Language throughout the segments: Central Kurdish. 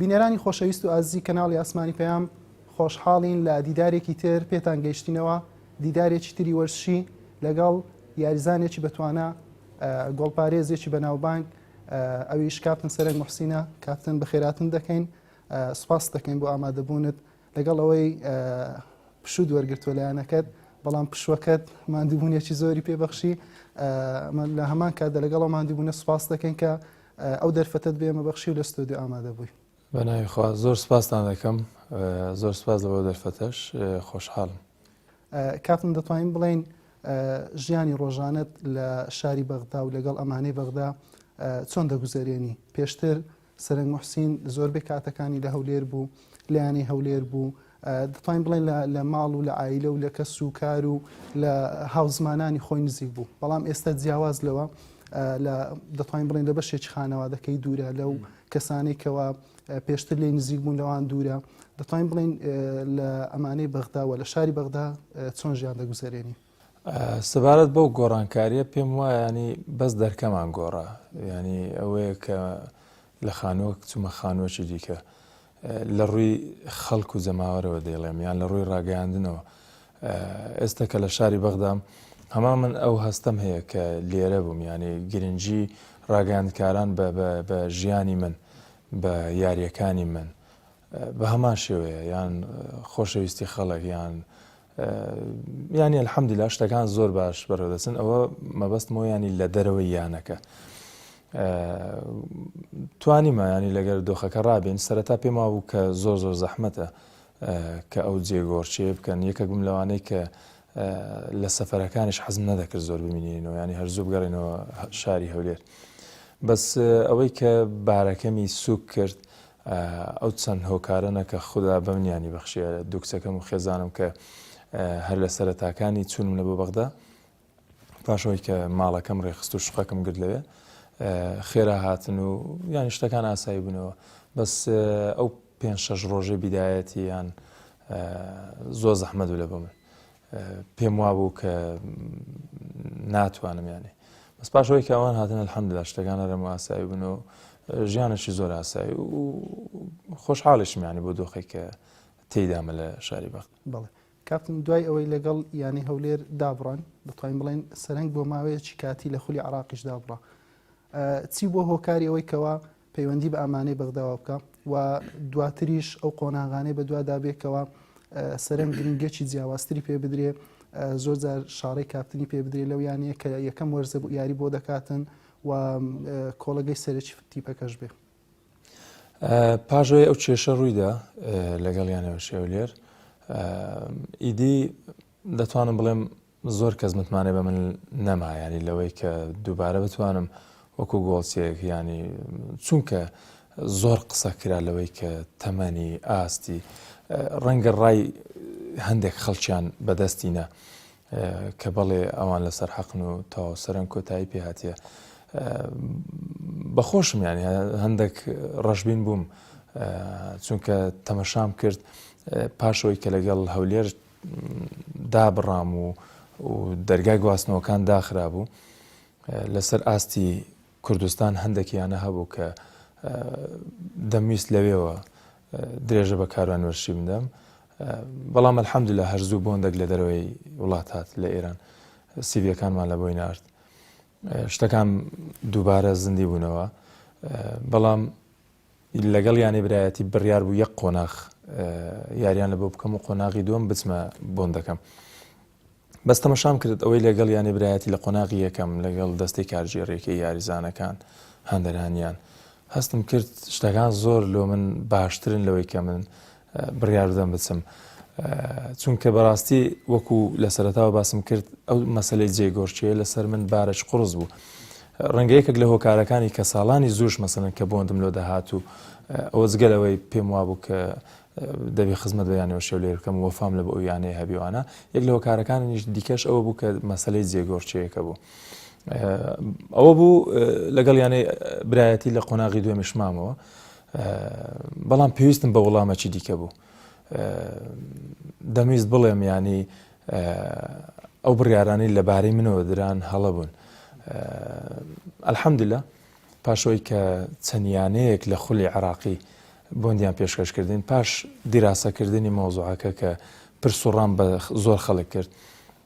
بینەرانی خۆشەویست و ئازیزی کەناڵی ئاسمانی پەیام خۆشحاڵین لە دیدارێکی تر پێتان گەیشتینەوە دیدارێکی تری وەرزشی لەگەڵ یاریزانێکی بەتوانە گۆڵپارێزێکی بەناوبانگ ئەویش کاپتن سەرنگ محسینە کاپتن بەخێراتن دەکەین سوپاس دەکەین بۆ ئامادەبوونت لەگەڵ ئەوەی پشوود وەرگتووە لایەنەکەت بەڵام پشوەکەت مادیبوونیەکی زۆری پێبەخشی لە هەمان کاتدا لەگەڵ مادیبوونە سوپاس دەکەین کە ئەو دەرفەتت بێمە بەخشی و لە ستۆدیو ئامادە بووی بەناویخوا زۆر سپاستان دەکەم زۆر سپاس لەەوە دەرفەتەش خۆشحاڵم کاپن دەتوانین بڵین ژیانی ڕۆژانت لە شاری بەغدا و لەگەڵ ئەمانەی بەغدا چۆن دەگوزارێنی پێشتر سەرەنگ موحسین زۆربەی کاتەکانی لە هەولێر بوو لە یانەی هەولێر بوو دەتوانین بڵێن لە ماڵ و لە ئایلە و لە کەس و کار و لە هاوزمانانی خۆی نزیک بوو بەڵام ئێستا جیاواز لەوە دەتوانین بڵێن لە بەشێکی خانەوادەکەی دوورە لەو کەسانی کەەوە پێشتر لی نزیک بوون لەوان دوورە دەتوانین بڵین لە ئەمانەی بەغداوە لە شاری بەغدا چۆن ژیان دەگوزارێنی سەبارەت بەو گۆڕانکاریە پێم وایە ینی بەس دەرکەمان گۆڕا ینی ئەوەیە کە لە خانووەک چومە خانووەکی دیکە لە ڕووی خەڵک و جەماوەرەوە دەیڵێم یان لە ڕووی ڕاگەیاندنەوە ئێستا کە لە شاری بەغدام هەما من ئەو هەستەم هەیە کە لێرە بووم ینی گرنگجی ڕاگەاندکاران بە ژیانی من بە یاریەکانی من بە هەمان شێوەیە یان خۆشەویستی خەڵک یان یانی الحمدللە شتەکان زۆر باش بەڕێدەچن ئەوە مەبەستمەوە ینی لە دەرەوەی یانەکە توانیمە ینی لەگەر دۆخەکە ڕابێن سەرەتا پێما بوو کە زۆر زۆر زەحمەتە کە ئەو جێگۆرچێ بکەن یەکەک بم لەوانەیە کە لە سەفەرەکانش حەزم نەدەکرد زۆر ببینینەوە ینی هەرزوو بگەڕێنەوە شاری هەولێر بەس ئەوەی کە بارەکەمی سوک کرد ئەو چەند هۆکارەنە کە خودا بەمنیانی بەخشیە دوکچەکەم و خێزانم کە هەر لە سەرەتاکانی چونمە بۆ بەغدا پاشەوەی کە ماڵەکەم ڕێخست و شقەکەم گرت لەوێ خێرا هاتن و یانی شتەکان ئاسایی بوونەوە بەس ئەو پێ شەش ڕۆژەی بیدایەتی یان زۆر زەحمە دوو لە بۆ من پێم وابوو کە ناتوانم یانێ بەس پاش ئەوەی کە ئەوان هاتن الحەمدلله شتەکان هەرم ئاسایی بن و ژیانێکی زۆر ئاسایی و خۆشحاڵیشم یانی بۆ دۆخێک کە تێدامە لە شاری بەخت بڵێ کاپتن دوای ئەوەی لەگەڵ یانەی هەولێر دابڕان دەتوانین بڵێن سەرنگ بۆ ماوەیەکی کاتی لە خولی عراقیش دابڕە چی بۆ هۆکاری ئەوەی کەەوە پەیوەندی بە ئەمانەی بەغداوە بکا و دواتریش ئەو قۆناغانەی بەدوادا بێ کەوا سەرەنج گرنگێکی جیاوازتری پێ بدرێ زۆر جار شارەی کاپتنی پێ بدرێ لەو یانەیە کە یەکەم وەرزە بوو یاری بۆ دەکاتن و کۆڵەگەی سەرەکی تیپەکەش بێ پاژۆی ئەو کێشە ڕوویدا لەگەڵ یانەوە شێولێر ئیدی دەتوانم بڵێم زۆر کەس متمانەی بە من نەما یانی لەوەی کە دووبارە بتوانم وەکو گۆڵچیەک یانی چونکە زۆر قسە کرا لەوەی کە تەمەنی ئاستی ڕەنگە ڕای هەندێک خەڵکیان بەدەستی نا کە بەڵێ ئەوان لەسەر حەقن و تاو سەرەن کۆتایی پێهاتە بەخۆشم ینی هەندێک ڕەشبین بووم چونکە تەمەشام کرد پاشەوەی کە لەگەڵ هەولێر دابڕام و دەرگای گواستنەوەکان داخرابوو لەسەر ئاستی کوردستان هەندێکیانە هەبوو کە دەمویست لەوێەوە درێژە بە کاروان وەرشی بدەم بەڵام الحەمد لە هەرزوو بۆندێک لە دەرەوەی وڵات هات لە ئێران سیبیەکانمان لە بۆی نارد شتەکان دووبارە زیندی بوونەوە بەڵام لەگەڵ یانەی برایەتی بڕیار بوو یەک قۆناغ یاریان لە بۆ بکەم و قۆناغی دووەم بچمە بۆندەکەم. بەس تەمەشام کرد ئەوەی لەگەڵ یانەی برایەتی لە قۆناغی یەکەم لەگەڵ دەستی کارژێڕێکی یاریزانەکان هەندەرانیان هەستم کرد شتەکان زۆر لۆ من باشترن لەوەی کە من بڕیاردەدەم بچم چونکە بەڕاستی وەکو لە سەرتاوە باسم کرد ئەو مەسلەی جێگۆرچێ لەسەر من بارەش قڕز بوو. ڕەنگەیەکێک لە هۆکارەکانی کە ساڵانی زۆش مەسەن کە بۆندم لۆ دەهات و ئەوە جگەلەوەی پێم وابوو کە دەبێ خزمەت بە یانەوە شێو لێر بکەم وەفام لە بە ئەو یانەیە هەبیوانە یەک لە هۆکارەکانیش دیکەش ئەوە بوو کە مەسلەی جێگۆرچەیەەکە بوو. ئەوە بوو لەگەڵ یانەی برایەتی لە قۆناغی دوێمشمامەوە بەڵام پێویستم بە وڵامەکی دیکە بوو دەمویست بڵێم ینی ئەو بڕیارانی لەبارەی منەوە دران هەڵە بوون ئەلحەمدلە پاشەوەی کە چەندیانەیەک لە خولی عراقی بۆندیان پێشکەشکردین پاش دیراسەکردنی مۆزوعەکە کە پرسوڕام بە زۆر خەڵک کرد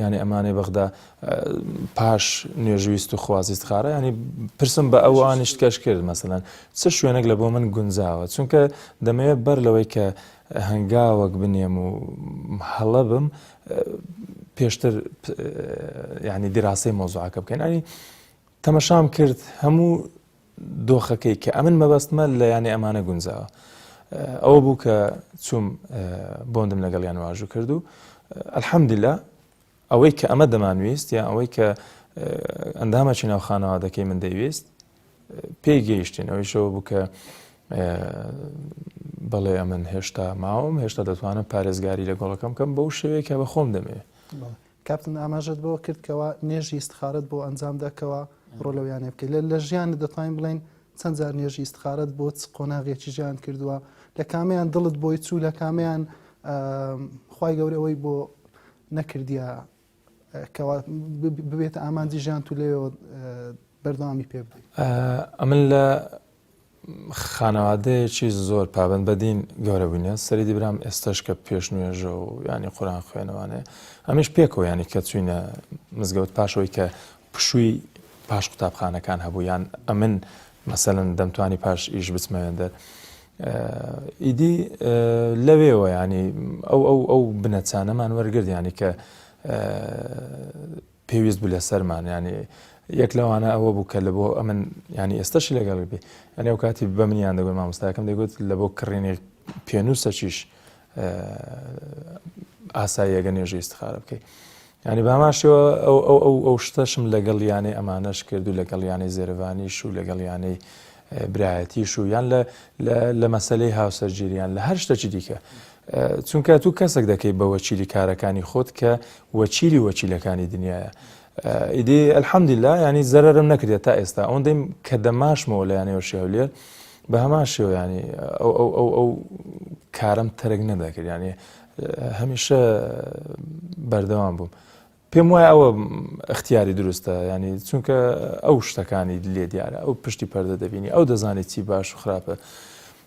یانی ئەمانەی بەغدا پاش نوێژ ویست و خوازیست خارە ینی پرسم بە ئەو ئانیشت کەش کرد مەسەەن چ شوێنێک لە بۆ من گونجاوە چونکە دەمەوێت بەر لەوەی کە هەنگاوەک بنێم و هەڵە بم پێشتر ینی دیراسی مۆزوعەکە بکەین ئەنی تەمەشام کرد هەموو دۆخەکەی کە ئەمن مەبەستمە لە یانەی ئەمانە گونجاوە ئەوە بوو کە چوم بۆندم لەگەڵیان واژوو کرد و ئەلحەمدلا ئەوەی کە ئەمە دەمانویست یا ئەوەی کە ئەندامەکی ناو خانەوادەکەی من دەیویست پێی گەیشتین ئەویشەوە بوو کە بەڵێ ئەمن هێشتا ماوەم هێشتا دەتوانم پارێزگاری لە گۆڵەکەم کەم بەو شێوەیە کە بە خۆم دەمێ کاپتن ئاماژەت بەوە کرد کەوا نوێژی ئیستخارەت بۆ ئەنجام دا کەوا ڕۆ لەو یانەیە بکەیت لە لە ژیانت دەتوانین بڵێین چەند جار نوێژی ئیستخارەت بۆ چ قۆناغێکی ژیان کردووە لە کامیان دڵت بۆی چوو لە کامیان خی گەورەوەی بۆ نەکردیا کەوا ببێتە ئامانجی ژیان تو لێەوە بەردەوامی پێ بدەیت ئەمن لە خانەوادەیەکی زۆر پابەند بە دین گەورە بووینە سەریدی برام ئێستاش کە پێش نوێژە و ینی قوران خوێنەوانێ ئەمیش پێکەوە ینی کە چوینە مزگەوت پاشەوەی کە پشووی پاش قوتابخانەکان هەبوو یان ئەمن مەسەن دەمتوانی پاش ئیش بچمەوێن دەر ئیدی لەوێەوە ینی ئەو ئەو ئەو بنەچانەمان وەرگردیانی کە پێویست بوو لەسەرمان یعنی یەک لەوانە ئەوە بوو کە لە بۆ ئەمن ینی ئێستاشی لەگەڵ بێ ئەنێ و کاتی بە منیان دەگوت مامۆستاکەم دەگوت لە بۆ کڕینی پێنووسەچیش ئاساییەگە نوێژی استخارە بکەیت ینی باماشەوە ئەو ئەو ئەو ئەو شتەشم لەگەڵ یانەی ئەمانەش کرد و لەگەڵ یانەی زێرەوانیش و لەگەڵ یانەی برایەتیش و یان لە مەسەلەی هاوسەرگیری یان لە هەر شتەکی دیکە چونکە تو کەسێک دەکەی بە وەکیلی کارەکانی خۆت کە وەکیلی وەکیلەکانی دنیاە ئیدی ئەلحەمدیلا ینی زەرم نەکرێت تا ئێستا ئەوەن دەیم کە دەماشمەوە لە یانەوە شێولێر بە هەمان شێویانی ئەو کارم تەرک نەدەکرد ینی هەمیشە بەردەوام بووم. پێم وایە ئەوە ئەختیاری دروستە ینی چونکە ئەو شتەکانی لێ دیارە ئەو پشتی پەردە دەبینی ئەو دەزانێت چی باش و خراپە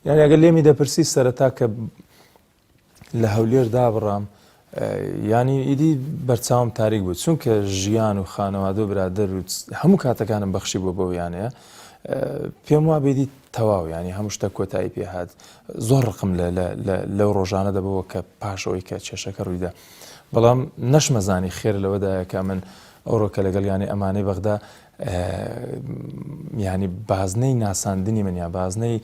یان ئەگەر لێمی دەپرسی سەرەتا کە لە هەولێر دابڕام ینی ئیدی بەرچاوم تاریک بوو چونکە ژیان و خانەوادە و برادەر و هەموو کاتەکانم بەخشی بۆ بەویانەیە پێم وا بێدی تەواو ینی هەموو شتە کۆتایی پێهات زۆر ڕقم لەو ڕۆژانە دەبەوە کە پاشەوەی کە چێشەکە ڕوویدا بەڵام نەشمەزانی خێر لەوەدایە کە من ئەوڕۆ کە لەگەڵ یانی ئەمانەی بەغدا ینی بازنەی ناساندنی من یا بازنەی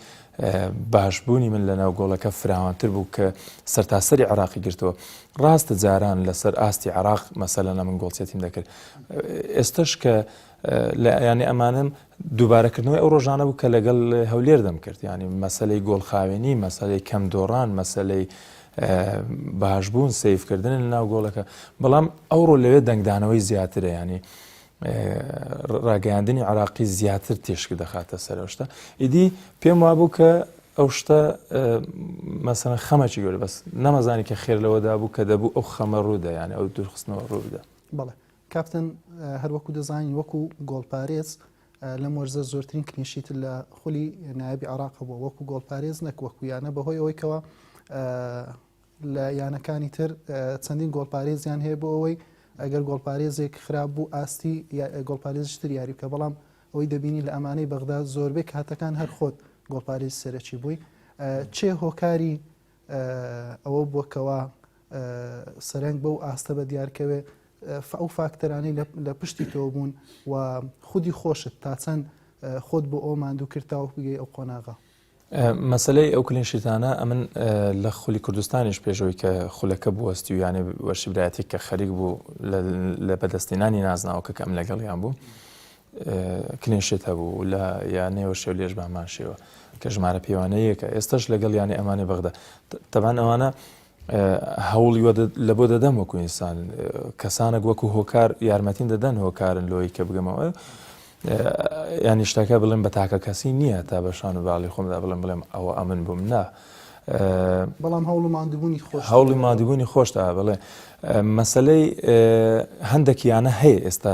باشبوونی من لە ناو گۆڵەکە فراوانتر بوو کە سەرتاسەری عراقی گرتووە ڕاستە جاران لەسەر ئاستی عراق مەسەلەنە من گۆڵچێتیم دەکرد ئێستش کە لە ئەیانی ئەمانم دووبارەکردنەوەی ئەو ڕۆژانە بوو کە لەگەڵ هەولێر دەمکرد یانی مەسلەی گۆڵخاوێنی مەسلەی کەم دۆڕان مەسلەی باشبوون سیفکردن لە ناو گۆڵەکە بەڵام ئەوڕۆ لەوێ دەنگدانەوەی زیاترە ینی ڕاگەیاندنی عراقی زیاتر تێشک دەخاتە سەرشتە ئیدی پێم وابوو کە ئەو شتە مەسەن خەمەکی گەور بەس نەمەزانی کە خێر لەوەدا بوو کە دەبوو ئەو خەمە ڕوودە یانە ئەو دوورخستنەوە ڕوودا بەڵێ کاپتن، هەروەکو دەزانین وەکو گۆڵپارێز لەم وەرزە زۆرترین کلینشیتت لە خولی نایابی عێراق هەبووە وەکو گۆڵپارێز نەک وەکو یانە بەهۆی ئەوەی کەوە لە یانەکانی تر چەندین گۆڵپارێزیان هەیە بۆ ئەوەی ئەگەر گۆڵپارێزێک خراپ بوو ئاستی گۆڵپارێزشتر یاری بکە بەڵام ئەوەی دەبینی لە ئەمانەی بەغدا زۆربەی کاتەکان هەر خۆت گۆڵپارێز سەرەکی بووی چێ هۆکاری ئەوە بووە کەوا سەرەنگ بەو ئاستە بە دیار کەوێ ئەو فاکتەرانی لە پشتی تۆ بوون و خودی خۆشت تا چەند خۆت بۆ ئەو ماندوو کرد تاوەک بگەی ئەو قۆناغە مەسلەی ئەو کلین شیتانە ئەمن لە خولی کوردستانیش پێشەوەی کە خولەکە بوەستی و یانێ وەرشبرایەتی کە خەریک بوو لە بەدەستێنانی نازناوەکە کەم لەگەڵیان بوو کلینشیت هەبوو لە یانەوە شێو لێژ بەمان شێوە کە ژمارە پێوانە یەکە ئێستش لەگەڵ یانە ئەمانی بەغدا تەبان ئەوانە هەوڵی لە بۆ دەدەم وەکو ئینسان کەسانێک وەکو هۆکار یارمەتین دەدەن هۆکارن لۆی کە بگەمەوە ینی شتەکە بڵێن بە تاکە کەسی نییە تا بە شان و باڵی خۆمدا بڵێن بڵێم ئەوە ئەمن بووم نا بەڵام هەوڵ مادبوونی خۆش هەوڵی مادبوونی خۆشتا بڵێ مەسلەی هەندێکیانە هەیە ئێستا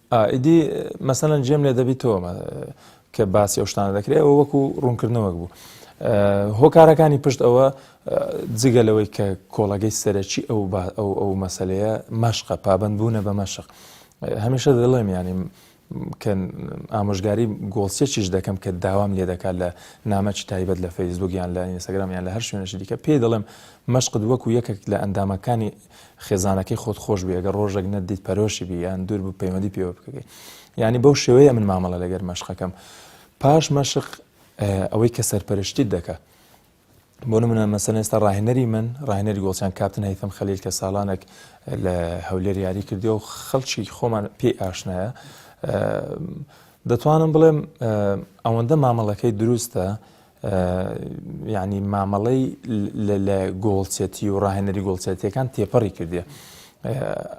ئا ئیدی مەسەلەن جێم لێ دەبی تۆ مە کە باسی ئەو شتانە دەکرێ ئەوە وەکو ڕوونکردنەوەک بوو هۆکارەکانی پشت ئەوە جگە لەوەی کە کۆڵەگەی سەرەکی ئەو ئەو ئەو مەسلەیە مەشقە پابند بوونە بە مەشق هەمیشە دەڵێم ینی کە ئامۆژگاری گۆڵسێکیش دەکەم کە داوام لێ دەکات لە نامەکی تایبەت لە فەیسبووکیان لە ئینستاگرامیان لە هەر شوێنشی دیکە پێی دەڵێم مەشقت وەکو یەکێک لە ئەندامەکانی خێزانەکەی خۆت خۆش بوی ئەگەر ڕۆژێک نەتدیت پەرۆشی بی یان دوور بوو پەیوەندی پێوە بکەکەی یعنی بەو شێوەیە من مامەڵە لەگەر مەشقەکەم پاش مەشق ئەوەی کە سەرپەرشتیت دەکە بۆ منە مەسەن ئێستا ڕاهێنەری من ڕاهێنەری گۆڵچان کاپتن هەیتم خەلیل کە ساڵانێک لە هەولێر یاری کردی و خەڵکی خۆمان پێی ئاشنایە دەتوانم بڵێم ئەوەندە مامەڵەکەی دروستە یانی مامەڵەی لە گۆڵچەتی و ڕاهێنەری گۆڵچەتیەکان تێپەڕی کردێ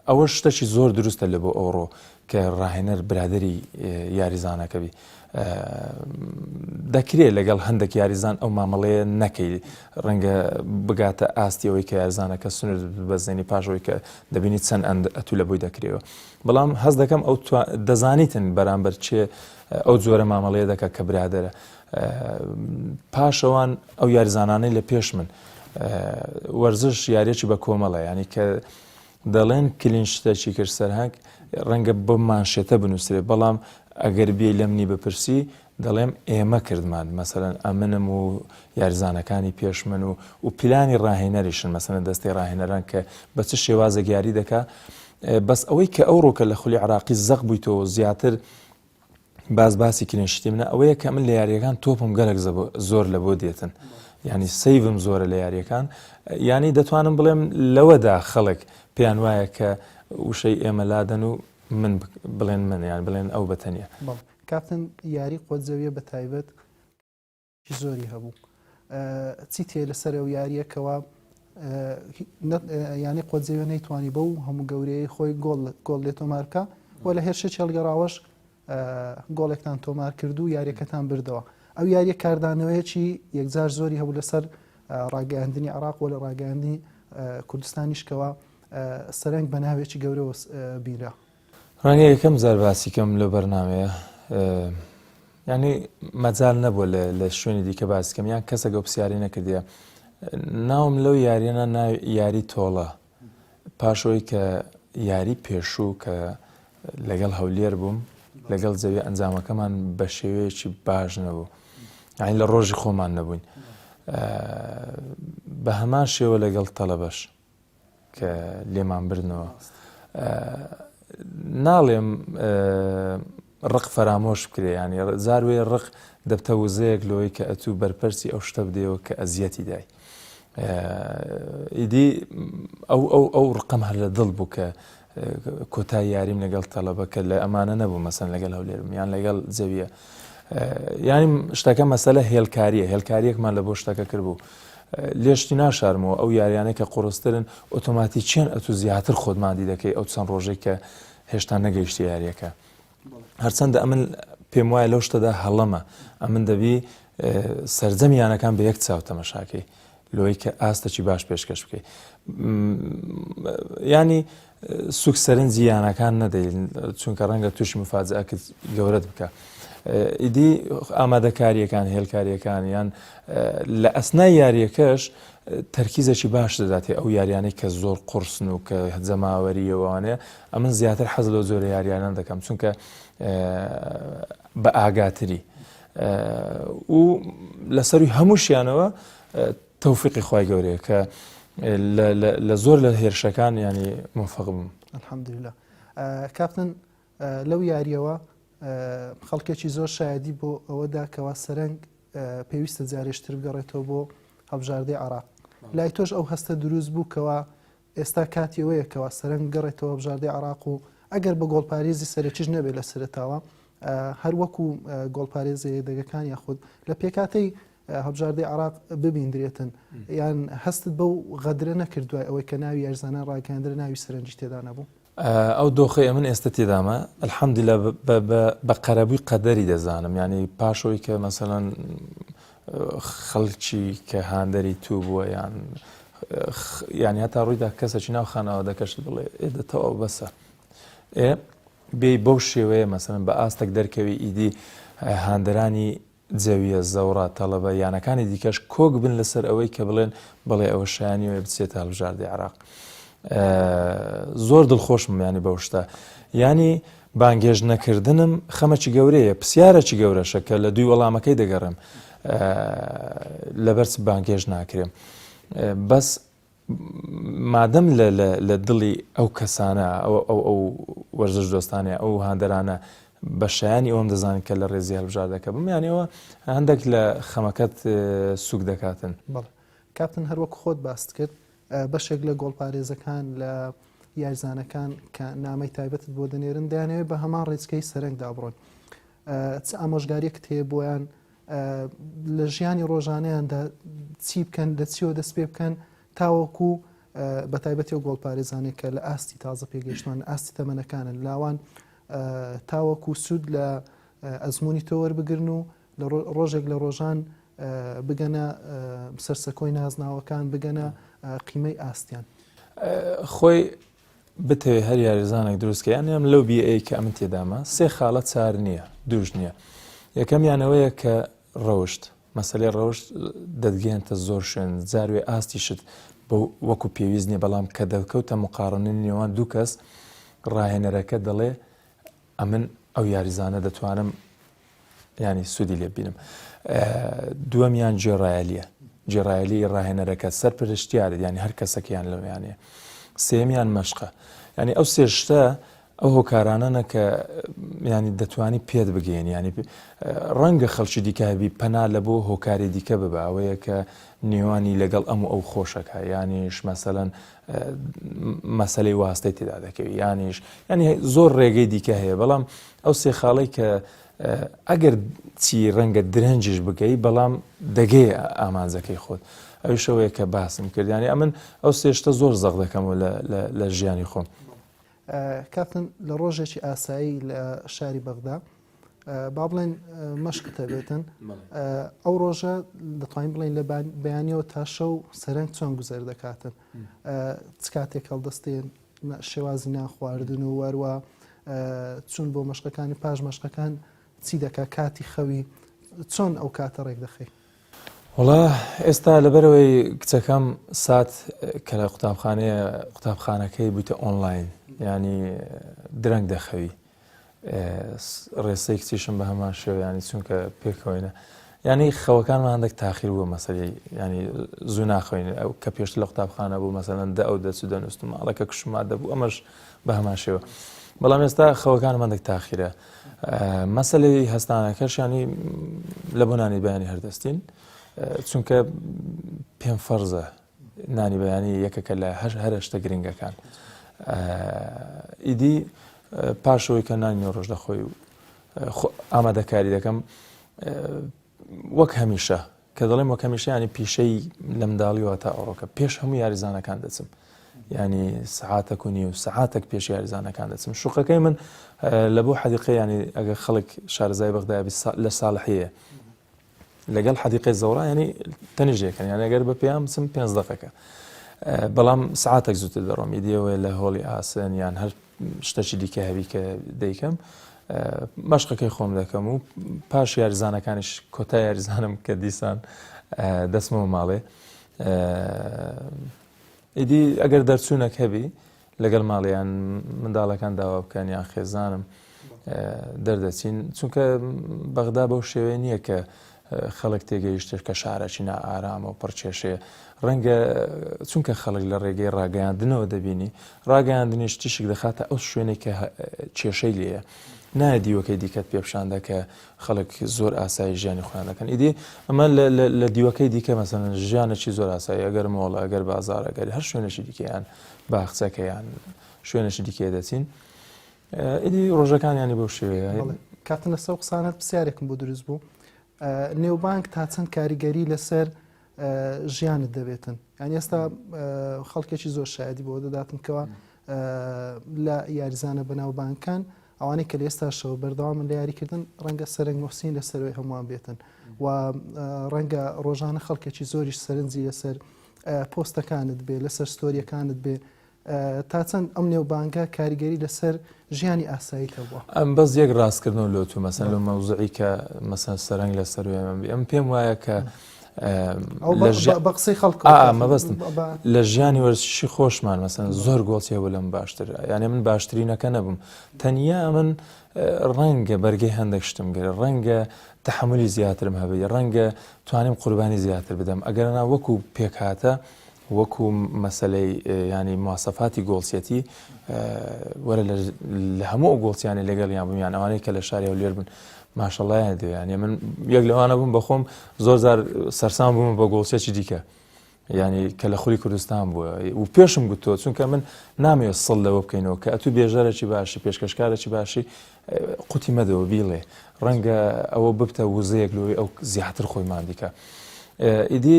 ئەوە شتەکی زۆر دروستە لە بۆ ئەوڕۆ کە ڕاهێنەر برادری یاریزانەکەبی دەکرێت لەگەڵ هەندێک یاریزان ئەو مامەڵەیە نەکەی ڕەنگە بگاتە ئاستی ئەوەی کە یارزانەکە سنوور بەزێنی پاشەوەی کە دەبینی چەند ئەند ئەتوو لە بۆی دەکرێەوە بەڵام هەز دەکەم ئەو دەزانیتن بەرامبەر چێ ئەو جۆرە مامەڵەیە دەکە کە برادرە پاشەوان ئەو یاریزانانەی لە پێش من وەرزش یاریەکی بە کۆمەڵە ینی کە دەڵێن کلین شتەکی کرد سەرهنگ ڕەنگە بۆ مانشێتە بنووسێ بەڵام ئەگەر بێ لە منی بپرسی دەڵێم ئێمە کردمان مەسەرەن ئەمنم و یاریزانەکانی پێش من و و پیلانی ڕاهێنەریشن مەسەنە دەستی ڕاهێنەران کە بە چ شێوازە گیاری دەکا بەس ئەوەی کە ئەو ڕۆکە لە خولی عراقی زەق بوویتەوە زیاتر باس باسی کرێن شتی منە ئەوەیە کە من لە یاریەکان تۆپم گەلک زۆر لە بۆ دێتن ینی سەیڤم زۆرە لە یاریەکان ینی دەتوانم بڵێم لەوەدا خەڵک پێیان وایە کە وشەی ئێمە لادەن و من بڵێن منیان بڵێن ئەو بەتەنە کاپتن یاری قۆت زەویە بە تایبەت ی زۆری هەبوو چی تێ لەسەر ئەو یاریە کەوا یانی قۆزیوە نەیتوانی بە و هەموو گەورەیە خۆی گۆڵ گۆڵ لێ تۆمار بکە و لە هێرشە چێڵگەڕاوەش گۆڵێکتان تۆمار کرد و یاریەکەتان بردەوە ئەو یاریە کاردانەوەیەکی یەکجار زۆری هەبوو لەسەر ڕاگەاندنی عراق و لە ڕاگەاندنی کوردستانیشکەوە سەرنگ بە ناوێکی گەورەوە بیرە ڕەنگە یەکەم جار باسی کەم لەو بەرنامەیە یعنی مەجال نەبووە لە شوێنی دیکە باسی کەم یان کەسە گەو پرسیاری نەکردە ناوم لەو یاریانە ناو یاری تۆڵە پاشەوەی کە یاری پێشوو کە لەگەڵ هەولێر بووم لەگەڵ زەوی ئەنجامەکەمان بە شێوەیەکی باش نەبوو یعنی لە ڕۆژی خۆمان نەبووین بە هەمان شێوە لەگەڵ تەڵەبەش کە لێمان بردنەوە ناڵێم ڕق فەرامۆش بکرێ ینی زاروێ ڕق دەبتە وزەیەک لەوەی کە ئەتوو بەرپەرسی ئەو شتە بدەوە کە ئەزیەتی دای ئیدی ئەو ئەو ئەو ڕقم هەر لە دڵ بوو کە کۆتا یاریم لەگەڵ تەڵەبە کە لە ئەمانە نەبوو مەسەن لەگەڵ هەولێرم یان لەگەڵ زەویە ینی شتەکە مەسەلە هێلکاریە هێلکاریەکمان لە بۆ شتەکە کرد بوو لێشتی ناشارمەوە ئەو یاریانە کە قڕسترن ئۆتۆماتی چێن ئەتو زیاتر خۆتمادی دەکەی ئەو چەند ڕۆژێک کە هێشتا نەگەیشتی یاریەکە هەرچەندە ئەمن پێم وایە لەو شتەدا هەڵەمە ئەمن دەبی سرجەمی یانەکان بە یەک چاو تەمەشاکەی لۆی کە ئاستەکی باش پێشکەش بکەی ینی سوک سەرنجی یانەکان نەدەین چونکە ڕەنگە تووشی مفاجەکە گەورەت بکە. ئیدی ئامادەکاریەکان هێلکاریەکان یان لە ئەسنای یاریەکەش تەرکیزەکی باش دەداتێ ئەو یاریانەی کە زۆر قرسن و کە هەجەماوەریەوەوانەیە ئەمن زیاتر حەز لەو جۆرە یاریانە دەکەم چونکە بە ئاگاتری و لەسەروی هەمووشیانەوە تەوفقی خی گەورەیە کە لە زۆر لە هێرشەکان ینی مفقم الحمدلله کاپتن لەو یاریەوە خەڵکێکی زۆر شایدی بۆ ئەوەدا کەوا سەرنگ پێویستە جارێشتر بگەڕێتەوە بۆ هەبژاردەی عراق لای تۆش ئەو هەستە دروست بوو کەوا ئێستا کاتی ئەوەیە کە واسەرەن بگەڕێتەوە هەڵبژاردەی عێراق و ئەگەر بە گۆڵپارێزی سەرەکیش نەبێت لە سەرەتاوە هەر وەکو گۆڵپارێزە یەدەگەکان یاخود لە پێکاتەی هەبژاردەی عراق ببیندرێتن یان هەستت بەو غەدرە نەکردوای ئەوەی کە ناوی یارزانە ڕاگەندرە ناوی سەرنجی تێدا نەبوو ئەو دۆخەی ئەمن ئێستە تێدامە الحمدللە بە قەرەبووی قەدەری دەزانم یعنی پاشەوەی کە مەسەەن خەڵکی کە هاندەری تو بووە یان یعنی هەتا ڕوویدا کەسەکی ناو خانەوە دەکەشت بڵێ ئێدە تەواو بەسە ئێ بێ بەو شێوەیە مەسەن بە ئاستەک دەرکەوی ئیدی هاندەرانی جەویە، زەوڕا، تەڵەبە یانەکانی دیکەش کۆک بن لەسەر ئەوەی کە بڵێن بەڵێ ئەوە شایەنی ئەوەیە بچێتە هەڵبژاردەی عێراق. زۆر دڵخۆشم یانی بەو شتە. یانی بانگێژ نەکردنم خەمەکی گەورەیە پرسیارەکی گەورەشە کە لە دوی وەڵامەکەی دەگەڕێم لەبەرچ بانگێژ ناکرێم. بەس مادەم لە لە دڵی ئەو کەسانە ئەوە ئەو ئەو وەرزش دۆستانە ئەو هاندەرانە بە شایانی ئەوم دەزانن کە لە ڕێزی هەلبژاردەکە بمیانەوە هەندێک لە خەمەکەت سوک دەکاتن بڵ کاپتن هەروەک خۆت باست کرد بەشێک لە گۆڵپارێزەکان لە یاریزانەکان کە نامەی تایبەتت بۆ دەنێرن دەیانەوێت بە هەمان ڕێچکەی سەرنگدا بڕۆن چ ئامۆژگاریەکت هەیە بۆیان لە ژیانی ڕۆژانەیاندا چی بکەن لە چیەوە دەست پێ بکەن تاوەکو بە تایبەتی و گۆڵپارێزانێک کە لە ئاستی تازە پێگەشتوان ئاستی تەمەنەکانن لاوان تاوەکو سوود لە ئەزمموی تۆوەەر بگرن و لە ڕۆژێک لە ڕۆژان بگەنە سەرسەکۆی نازناوەکان بگەنە قیمەی ئاستیان خۆی بتەوێ هەر یاریزانێک دروست کە یان یان لەو بیئەی کە ئەمن تێدامە سێ خاڵە چار نییە دووش نییە یەکەم یانەوەیە کە ڕەوشت مەسلەی ڕەوشت دەتگەێنتە زۆر شوێن جاروێ ئاستیشت بۆ وەکو پێویست نیە بەڵام کە دەکەوتە مقاڕنی نێوان دوو کەس ڕاهێنەرەکە دەڵێ ئەمن ئەو یاریزانە دەتوانم ینی سوودی لێ بینم دووەمیان جێڕایەلیە جێڕایەلی ڕاهێنەرەکە سەر پرشتیارێت ینی هەر کەسەکەیان لەویانێ سێمیان مەشقە ینی ئەو سێشتە ئەو هۆکارانەنە کە ینی دەتوانی پێت بگەین ینی ڕەنگە خەڵکی دیکەبی پەنا لە بۆ هۆکاری دیکە ببەوەیە کە نێوانی لەگەڵ ئەم و ئەو خۆشەکە ینیش مەسەەن مەسەلەی واستەی تێدا دەکەوی یانیش ینی زۆر ڕێگەی دیکە هەیە بەڵام ئەو سێ خاڵی کە ئەگەر چی ڕەنگە درەنجش بگەی بەڵام دەگەی ئامانجەکەی خۆت ئەوی شەوەیە کە باسم کردیانی ئەمن ئەو سێشتە زۆر زەق دەکەمەوە لە ژیانی خۆم کاتن لە ڕۆژێکی ئاسایی لە شاری بەغدا با بڵێن مەشقتە بێتن ئەو ڕۆژە دەتوانین بڵین لە بەیانەوە تا شەو سەرنج چۆن گوزەر دەکاتن چ کاتێک هەڵدەستێن شێوازی ناخواردن و وەروە چون بۆ مەشقەکانی پاش مەشقەکان چی دەکە کاتی خەوی چۆن ئەو کاتە ڕێک دەخی وڵا ئێستا لەبەرەوەی کچەکەم سات کە لە قوتابخانەیە قوتابخانەکەی بوویتە ئۆنلاین ینی درەنگ دەخەوی ڕێسەی کچیشم بە هەمان شێوە ینی چونکە پێکەوەینە ینی خەوەکانمان هەندێک تاخیر بووە مەسەری ینی زوو ناخۆین ئەو کە پێشت لە قوتابخانە بوو مەسەەن دە ئەو دەچ دەنووسم ماڵەکە کشما دەبوو ئەمەش بە هەمان شێوە بەڵام ئێستا خەوەکان مندێک تاخیرە مەسلەی هەستانەکەش ینی لە بۆنانی بەیانی هەردەستین چونکە پێم فەرزە نانی بەیانی یەکەکە لە هەش هەرە شتە گرنگەکان ئیدی پاشەوەی کە نانی نۆ ڕۆژ دەخۆی و ئامادەکاری دەکەم وەک هەمیشە کە دەڵێم وەک هەمیشیانی پیشەی لە منداڵیوە تا ئەوڕۆکە پێش هەموو یاریزانەکان دەچم ینی سعاتە کونی و سعاتێک پێش یاریزانەکان دەچم شوقەکەی من لە بۆ حەدیقەیانی ئەگەر خەڵک شارزای بەغدابی لە ساڵحەیە لەگەڵ حەدیقەی زەوڕا ینی تەنیژێکن یان ئەگەر بە پێیان بچم پێنج دقەکە بەڵام سعاتێک زووتر دەڕۆم ئیدیەوە لە هۆڵی ئاسن یان هەر شتەکی دیکە هەبی کە دەیکەم مەشقەکەی خۆم دەکەم و پاش یاریزانەکانیش کۆتا یاریزانم کە دیسان دەستمەوە ماڵێ ئیدی ئەگەر دەرچوونەک هەبی لەگەل ماڵ یان منداڵەکان داوا بکەن یان خێزانم دەردەچین چونکە بەغدا بەو شێوەیە نییە کە خەڵک تێگەیشتێت کە شارەکی نا ئارامە و پڕچێشێ ڕەنگە چونکە خەڵک لە ڕێگەی ڕاگەیاندنەوە دەبینی ڕاگەیاندنیش تیشک دەخاتە ئەو شوێنێک کە کێشەی لێە نایە دیوەکەی دیکەت پێپشاندە کە خەڵک زۆر ئاسایی ژیانی خۆیان دەکەن ئیدی ئەمە لە دیوەکەی دیکە مەسەن ژیانێکی زۆر ئاسایی ئەگەر مۆڵە ئەگەر بازار ئەگەر هەر شوێنێکی دیکەیان باخچەکەیان شوێنێکی دیکێ دەچین ئیدی ڕۆژەکانیانی بەو شێوەیە کاتنە سەو قسانت پرسیارێکم بۆ دروست بوو نێوبانک تا چەند کاریگەری لەسەر ژیانت دەبێتن یان ئێستا خەڵکێکی زۆر شایدی بۆ دەداتن کەەوە لە یاریزانە بەناوبانکان. بانکان ئەوانەی کە لە ئێستاشەوە بەردەوامن لە یاریکردن ڕەنگە سەرنگ موحسین لە سەروی هەمووان بێتن و ڕەنگە ڕۆژانە خەڵکێکی زۆریش سەرنجی لەسەر پۆستەکانت بێ لەسەر ستۆریەکانت بێ تا چەند ئەم نێوبانگە کاریگەری لەسەر ژیانی ئاسایی هەبووە ئەم بەس یەک ڕاستکردن لۆ تو مەسەن لە مەوزعی کە مەسەن سەرنگ لە سەروێمە ئەم پێم وایە کە بەقسەی خەڵک مەبستم لە ژیانی وەرزشی خۆشمان مەسن زۆر گۆڵچێ بوو لەم باشتر یانە من باشترینەکە نەبووم تەنیا من ڕەنگە بەرگەی هەندێک شتم گەر ڕەنگە تحملی زیاترم هەبێت ڕەنگە توانیم قوربانی زیاتر بدەم ئەگەرنا وەکو پێکهاتە وەکو مەسەلەی یانی مواسەفاتی گۆڵچیەتی وەرە لە هەموو ئەو گۆڵچیانی لەگەڵیان بوو یان ئەوانەی کە لە شاری هەولێر بن ماشەڵایان دێ یانە من یەک لەوانە بووم بەخۆم زۆر زار سەرسان بووم بە گۆڵچێکی دیکە ینی کە لە خولی کوردستان بووە و پێشم گوتۆ چونکە من نامەوێت سڵ لەوە بکەینەوە کە ئەتو بێژەرەی باشی پێشکەشکارەی باشی قوتی مەدەوە بیڵێ ڕەنگە ئەوە ببتە وزەیەک لۆی ئەو زیاتر خۆی مادیکە ئیدی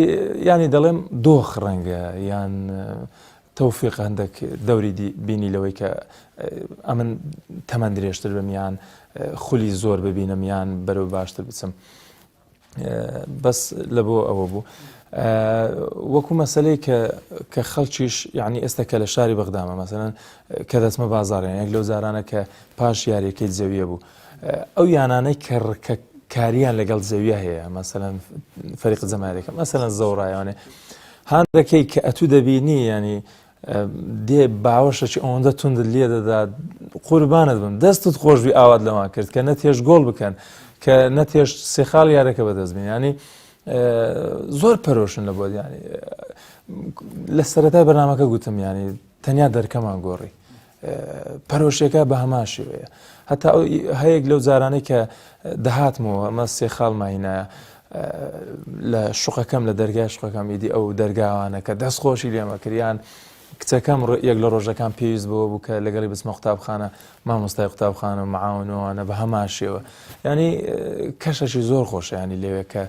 ینی دەڵێم دۆخ ڕەنگە یان تەوفیق هەندێک دەوری بینی لەوەی کە ئەمن تەمەند درێژتر بمیان خولی زۆر ببینم یان بەرەو باشتر بچم بەس لە بۆ ئەوە بوو وەکو مەسلەی کە کە خەڵکیش یعنی ئێستا کە لە شاری بەغدامە مەسەن کە دەچمە بازارێن یەک لەو جارانە کە پاش یاریەکەی زەویە بوو ئەو یانانەی کە ڕکە کاریان لەگەڵ زەویە هەیە مەسەن فەریق زەمارێکە مەسەن زەوڕایانێ هاندەکەی کە ئەتوو دەبینی ینی دێ باوەشە چ ئەوەندە توندت لێ دەدات قوربانت بم دەستت خۆشبی ئاوات لەوان کرد کە نەتێش گۆڵ بکەن کە نەتێش سێخال یارەکە بەدەست بین ینی زۆر پەرۆشن لە بۆ ینی لە سەرەتای بەنامەکە گوتم ینی تەنیا دەرکەمان گۆڕی پەرۆشیەکە بە هەمان شێوەیە هەتا هەیەک لەو جارانەی کە دەهاتمەوە ئەمە سێ خاڵ ماینایە لە شوقەکەم لە دەرگای شوقەکەم ئیدی ئەو دەرگاوانە کە دەست خۆشی لێمەکریان کچەکەم یەک لە ڕۆژەکان پێویست بەوە بوو کە لەگەڵی بچمە قوتابخانە مامۆستای قوتابخانە مەعاونەوەوانە بە هەمان شێوە ینی کەشەشی زۆر خۆشیانی لەوێ کە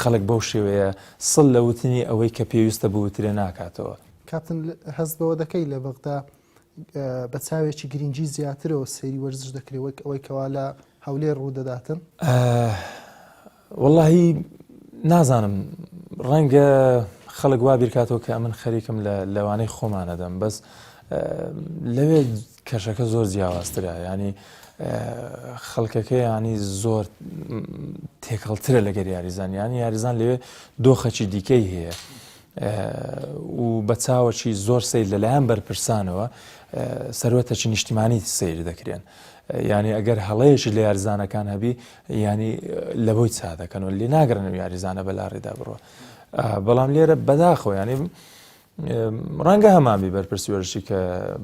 خەڵک بەو شێوەیە سڵ لە وتنی ئەوەی کە پێویستە بوترێ ناکاتەوە کاتن هەست بەوە دەکەی لە بەغدا بە چاوێکی گرینگی زیاترەوە سەیری وەرزش دەکرێت وەک ئەوەی کەوا لە هەولێر ڕوودەداتن واللهی نازانم ڕەنگە خەڵک وا بیرکاتەوە کە ئەمن خەریکم لە لەوانەی خۆمانەدەم بەس لەوێ کەشەکە زۆر جیاوازترە ینی خەڵکەکە ینی زۆر تێکەڵترە لەگەر یاریزان یان یاریزان لەوێ دۆخەکی دیکەی هەیە و بە چاوەکی زۆر سیر لەلایەن بەرپرسانەوە سەروەتەکی نیشتیمانی سیر دەکرێن. یعنی ئەگەر هەڵەیەکی لە یاریزانەکان هەبی ینی لە بۆی چا دەکەن و لێ ناگرن و یاریزانە بەلاڕێدا بڕوە. بەڵام لێرە بەداخۆ ینی ڕەنگە هەمامی بەرپرسی وەرشی کە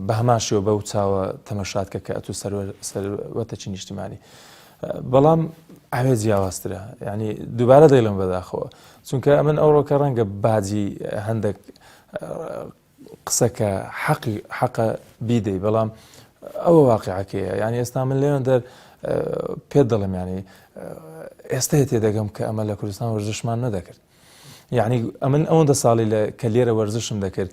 بەهماشەوە بەو چاوە تەمەشات کە کە ئەتو سەروەتەکی نیشتیمانی. بەڵام ئەوێ جیاوازترە ینی دووبارە دەیڵم بەداخەوە چونکە ئەمن ئەوڕۆکە ڕەنگە باجی هەندێک قسەکە حەقی حەقە بیدەی بەڵام ئەوە واقعەکەیە یعنی ئێستا من لێوێن دەر پێ دەڵم ینی ئێستا تێ دەگەم کە ئەمە لە کوردستان وەرزشمان نەدەکرد یعنی ئەمن ئەوەندە ساڵی لە کە لێرە وەرزشم دەکرد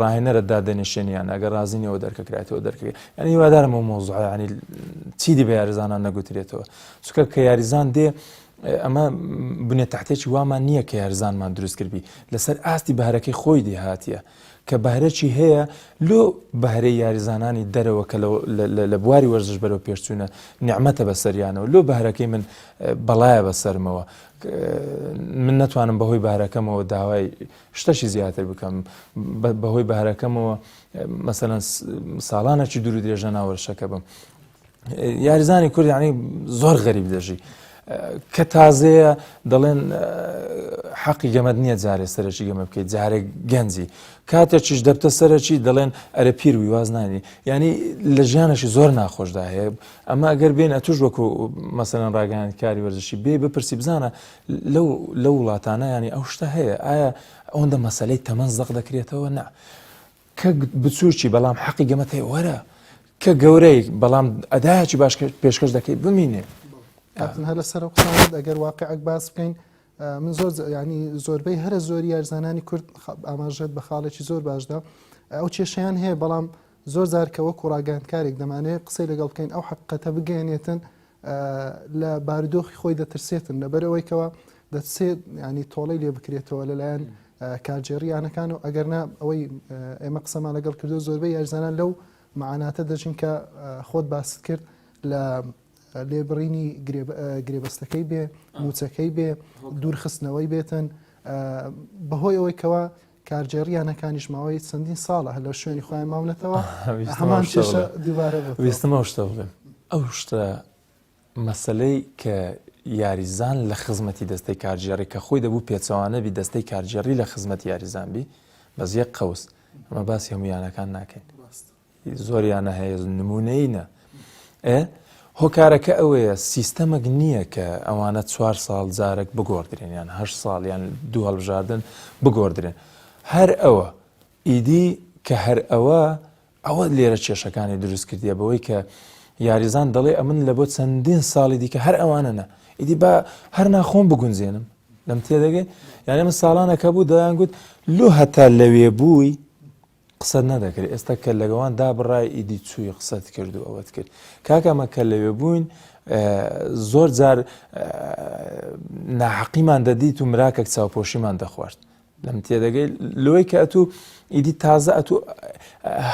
ڕاهێنەرت دادەنیشێنی یان ئەگەر ڕازی نیەوە دەرکەکراتەوە دەرکەکە یان هیوادارم و مۆزعیانی چیدی بە یاریزانان نەگوترێتەوە چکە کە یاریزان دێ ئەمە بنێ تحتێکی وامان نییە کە یارزانمان دروستکردبی لەسەر ئاستی بەهرەکەی خۆی دێهاتە کە بەهرەی هەیە لۆ بەهرەی یاریزانانی دەرەوە کە لە بواری وەرزش بەرەو پێشچوونە نیعممەتە بە سەریانەوە لۆ بەهرەکەی من بەڵایە بە سەرمەوە من ناتوانم بەهۆی بارەکەمەوە داوای شتەکی زیاتر بکەم بەهۆی بەهرەکەمەوە مەسەەن ساڵانەکی دوور درێژە ناوەرشەکە بم یاریزانی کورد ینی زۆر غەریب دەژی کە تازەیە دەڵێن حەقی گەمەد نییە جارێ سەرەکی گەمە بکەیت جارێک گەنجی کاتێکیش دەبتە سەرەکی دەڵێن ئەرە پیر وی وازنانی ینی لە ژیانەشی زۆر ناخۆشدا هەیە ئەمە ئەگەر بێن ئەتوش وەکو مەسەن ڕاگەیان کاری وەرزشی بێ بپرسی بزانە لەو لەو وڵاتانە یانی ئەو شتە هەیە ئایا ئەوەندە مەسلەی تەمەن زەق دەکرێتەوە نا کە بچووکی بەڵام حەقی گەمەت هەیە وەرە کە گەورەی بەڵام ئەدایکی باش پێشکەش دەکەی بمینێ هەر لەسەر قسانت ئەگەر واقعک باس بکەین من زۆر ینی زۆربەی هەرە زۆری یارزانانی کورد ئاماژێت بە خاڵێکی زۆر باشدا ئەو کێشیان هەیە بەڵام زۆر زارکەوە کوڕاگەاندکارێک دەمانێت قسەی لەگەڵ بکەین ئەو حقەتە بگەێنێتن لە بارودۆخی خۆی دەترسێتن لەبەر ئەوەی کەەوە دەتسێت ینی تۆڵەی لێ بکرێتەوە لەلایەن کارجێڕی یانەکان و ئەگەرنا ئەوەی ئێمە قسەمان لەگەڵ کردو زۆربەی یارزانان لەو معاناتە دەژین کە خۆت باست کرد لە لێبڕینی گرێبەستەکەی بێ موچەکەی بێ دوورخستنەوەی بێتن بەهۆی ئەوەی کەەوە کارگێڕی یانەکانیش ماوەی چەندین ساڵە هەر لە شوێنی خۆیان ماونەتەوە هەمان شێشە دووبارە ویستمە شتە بڵێم ئەو شتە مەسلەی کە یاریزان لە خزمەتی دەستەی کارگێڕی کە خۆی دەبوو پێچەوانە بی دەستەی کارگێڕی لە خزمەت یاریزان بی بەزیە قوس ئەمە باسی هەمویانەکان ناکەین زۆریانە هەیە نمونەینە ئێ هۆکارەکە ئەوەیە سیستەمەک نییە کە ئەوانە چوار ساڵ جارێک بگۆدرێن یان هە ساڵ یان دوو هەڵبژاردن بگۆدرێن هەر ئەوە ئیدی کە هەر ئەوە ئەوە لێرە کێشەکانی دروست کردیە بەوەی کە یاریزان دەڵێ ئەمن لە بۆ چەندین ساڵی دیکە هەر ئەوانە نە ئیدی با هەر ناخۆم بگونجێنم لەم تێدەگەی یانە من ساڵانەکە بوو دەیان گوت لۆ هەتا لەوێ بووی قسەت نەدەکرد ئێستا کە لەگەوان دابڕای ئیدی چووی قسەت کرد و ئەوەت کرد کاکەمە کە لەوێ بووین زۆر جار ناحەقیمان دەدیت و مراکەک چاوپۆشیمان دەخوارد لەم تێدەگەی لۆی کە ئەتوو ئیدی تازە ئەتو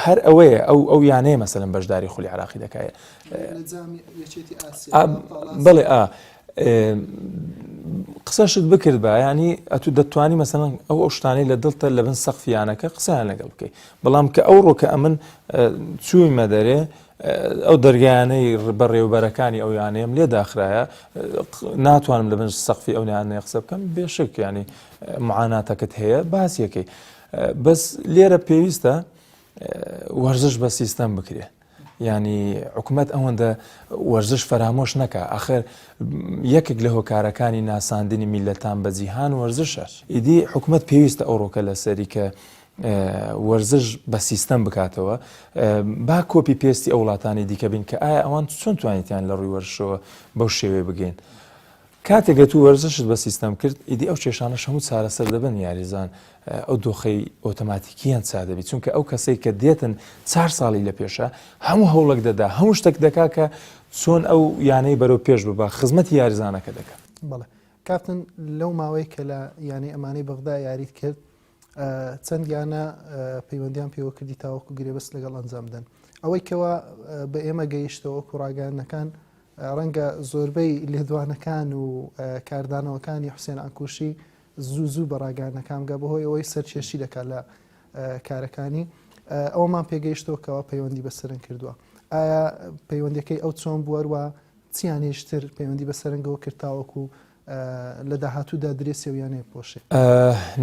هەر ئەوەیە ئەو ئەو یانەیە مەسەن بەشداری خولی عراقی دەکایە بڵێ ئا قسەشت بکردبا ینی ئەتو دەتوانی مەسەن ئەو ئەو شتانی لە دڵتە لە بن سەقفیانەکە قسەیان لەگەڵ بکەیت بەڵام کە ئەو ڕۆکە ئەمن چووی مەدەرێ ئەو دەرگایانەی بەڕێوبەرەکانی ئەو یانەیەم لێ داخرایە ناتوانم لە بنج سەقفی ئەو نیانەیە قسە بکەم بێشک ینی معاناتەکەت هەیە باسیەکەی بەس لێرە پێویستە وەرزش بە سیستەم بکرێت یانی حکومەت ئەوەندە وەرزش فەرامۆش نەکە ئەخر یەکێک لە هۆکارەکانی ناساندنی میلەتان بە جیهان وەرزشە ئیدی حکومت پێویستە ئەو ڕۆکە لەسەری کە وەرزش بە سیستەم بکاتەوە با کۆپی پێستی ئەو وڵاتانی دیکە بین کە ئایا ئەوان چۆن توانیتیان لە ڕووی وەرشەوە بەو شێوێ بگەین کاتێک گەتوو وەرزشت بە سیستەم کرد ئیدی ئەو کێشانەش هەموو چارەسەر دەبن یاریزان ئەو دۆخەی ئۆتۆماتیکیان چا دەبی چونکە ئەو کەسەی کە دێتن چار ساڵی لە پێشە هەموو هەوڵک دەدا هەموو شتێک دەکا کە چۆن ئەو یانەی بەرەو پێش ببە خزمەتی یاریزانەکە دەکە بڵێ کاپتن لەو ماوەی کە لە یانەی ئەمانەی بەغدا یاریت کرد چەند یانە پەیوەندیان پێوە کردی تاوەکو گرێبەست لەگەڵ ئەنجام بدەن ئەوەی کەەوە بە ئێمە گەیشتەوە کوڕاگەانەکان ڕەنگە زۆربەی لێدوانەکان و کاردانەوەکانی حوسێن عەنکوشی زوو زوو بە ڕاگەیاندنەکان بگا بەهۆی ئەوەی سەرکێشی دەکات لە کارەکانی ئەومان پێگەیشتەوە کەەوە پەیوەندی بە سەرنگ کردووە ئایا پەیوەندەکەی ئەو چۆن بوەروە چیان هێشتر پەیوەندی بە سەرنگەوە کرتاوەکو و لە داهاتوودا درێسی و یانەیە پۆشێ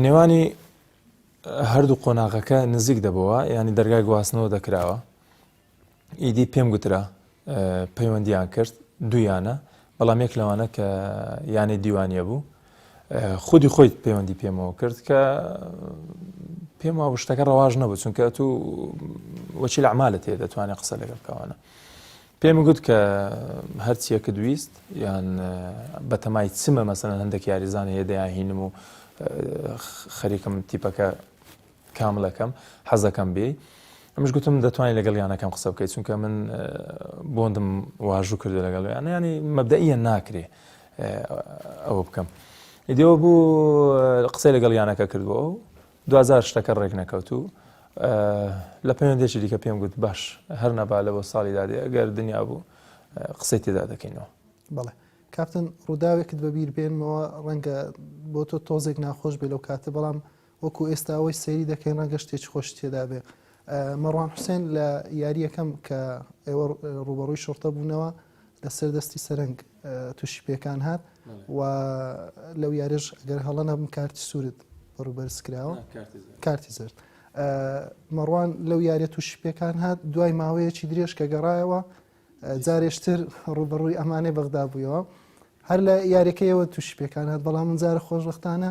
نێوانی هەردوو قۆناغەکە نزیک دەبەوە ینی دەرگای گواستنەوە دەکراوە ئیدی پێم گوترا پەیوەندیان کرد دوویانە بەڵام یەک لەوانە کە یانەی دیوانە بوو خودی خۆی پەیوەندی پێمەوە کرد کە پێم وابوو شتەکە ڕەواژ نەبوو چونکە تو وەچی لە عمالە تێ دەتوانێت قسە لەگەڵ کەوانە پێم گوت کە هەرچیەکە دویست یان بەتەمای چمە مەسەن هەندێک یاریزان هەیە دەیانهینم و خەریکم تیپەکە کاملەکەم حەزەکەم بێی ئەمش گوتم دەتوانین لەگەڵ یانەکەم قسە بکەیت چونکە من بۆندم واژوو کردو لەگەڵ یانە ینی مەبدەە ناکرێ ئەوە بکەم ئیدەوە بوو قسەی لەگەڵ یانەکە کردووە و دوزار شتەکە ڕێک نەکەوت و لە پەیوەندێکی دیکە پێم گوت باش هەر نەبا لەەوە ساڵی دادێ ئەگەر دنیا بوو قسەی تێدا دەکەینەوە بڵێ کاپتن ڕووداوێکت بەبییر بێنمەوە ڕەنگە بۆ تۆ تۆزێک ناخۆش بێ لەو کاتە بەڵام وەکو ئێستا ئەوەی سەیری دەکەین ڕەنگە شتێکی خۆشی تێدا بێ. مەڕوان حوسێن لە یارییەکەم کە ئێوە ڕووبەڕووی شڕتە بوونەوە لەسەر دەستی سەرنگ تووشی پێکان هات و لەو یاریش گەر هەڵە نەبم کارتی سوورت بەڕوبەرز کراوە کارتی زرد. مەڕوان لەو یاریە تووشی پێکان هات دوای ماوەیەکی درێژ کە گەڕایەوە جارێشتر ڕوبەڕووی ئەمانەی بەغدا بوویەوە هەر لە یاریەکەیەوە تووشی پێکان هات بەڵام من جارە خۆشبختانە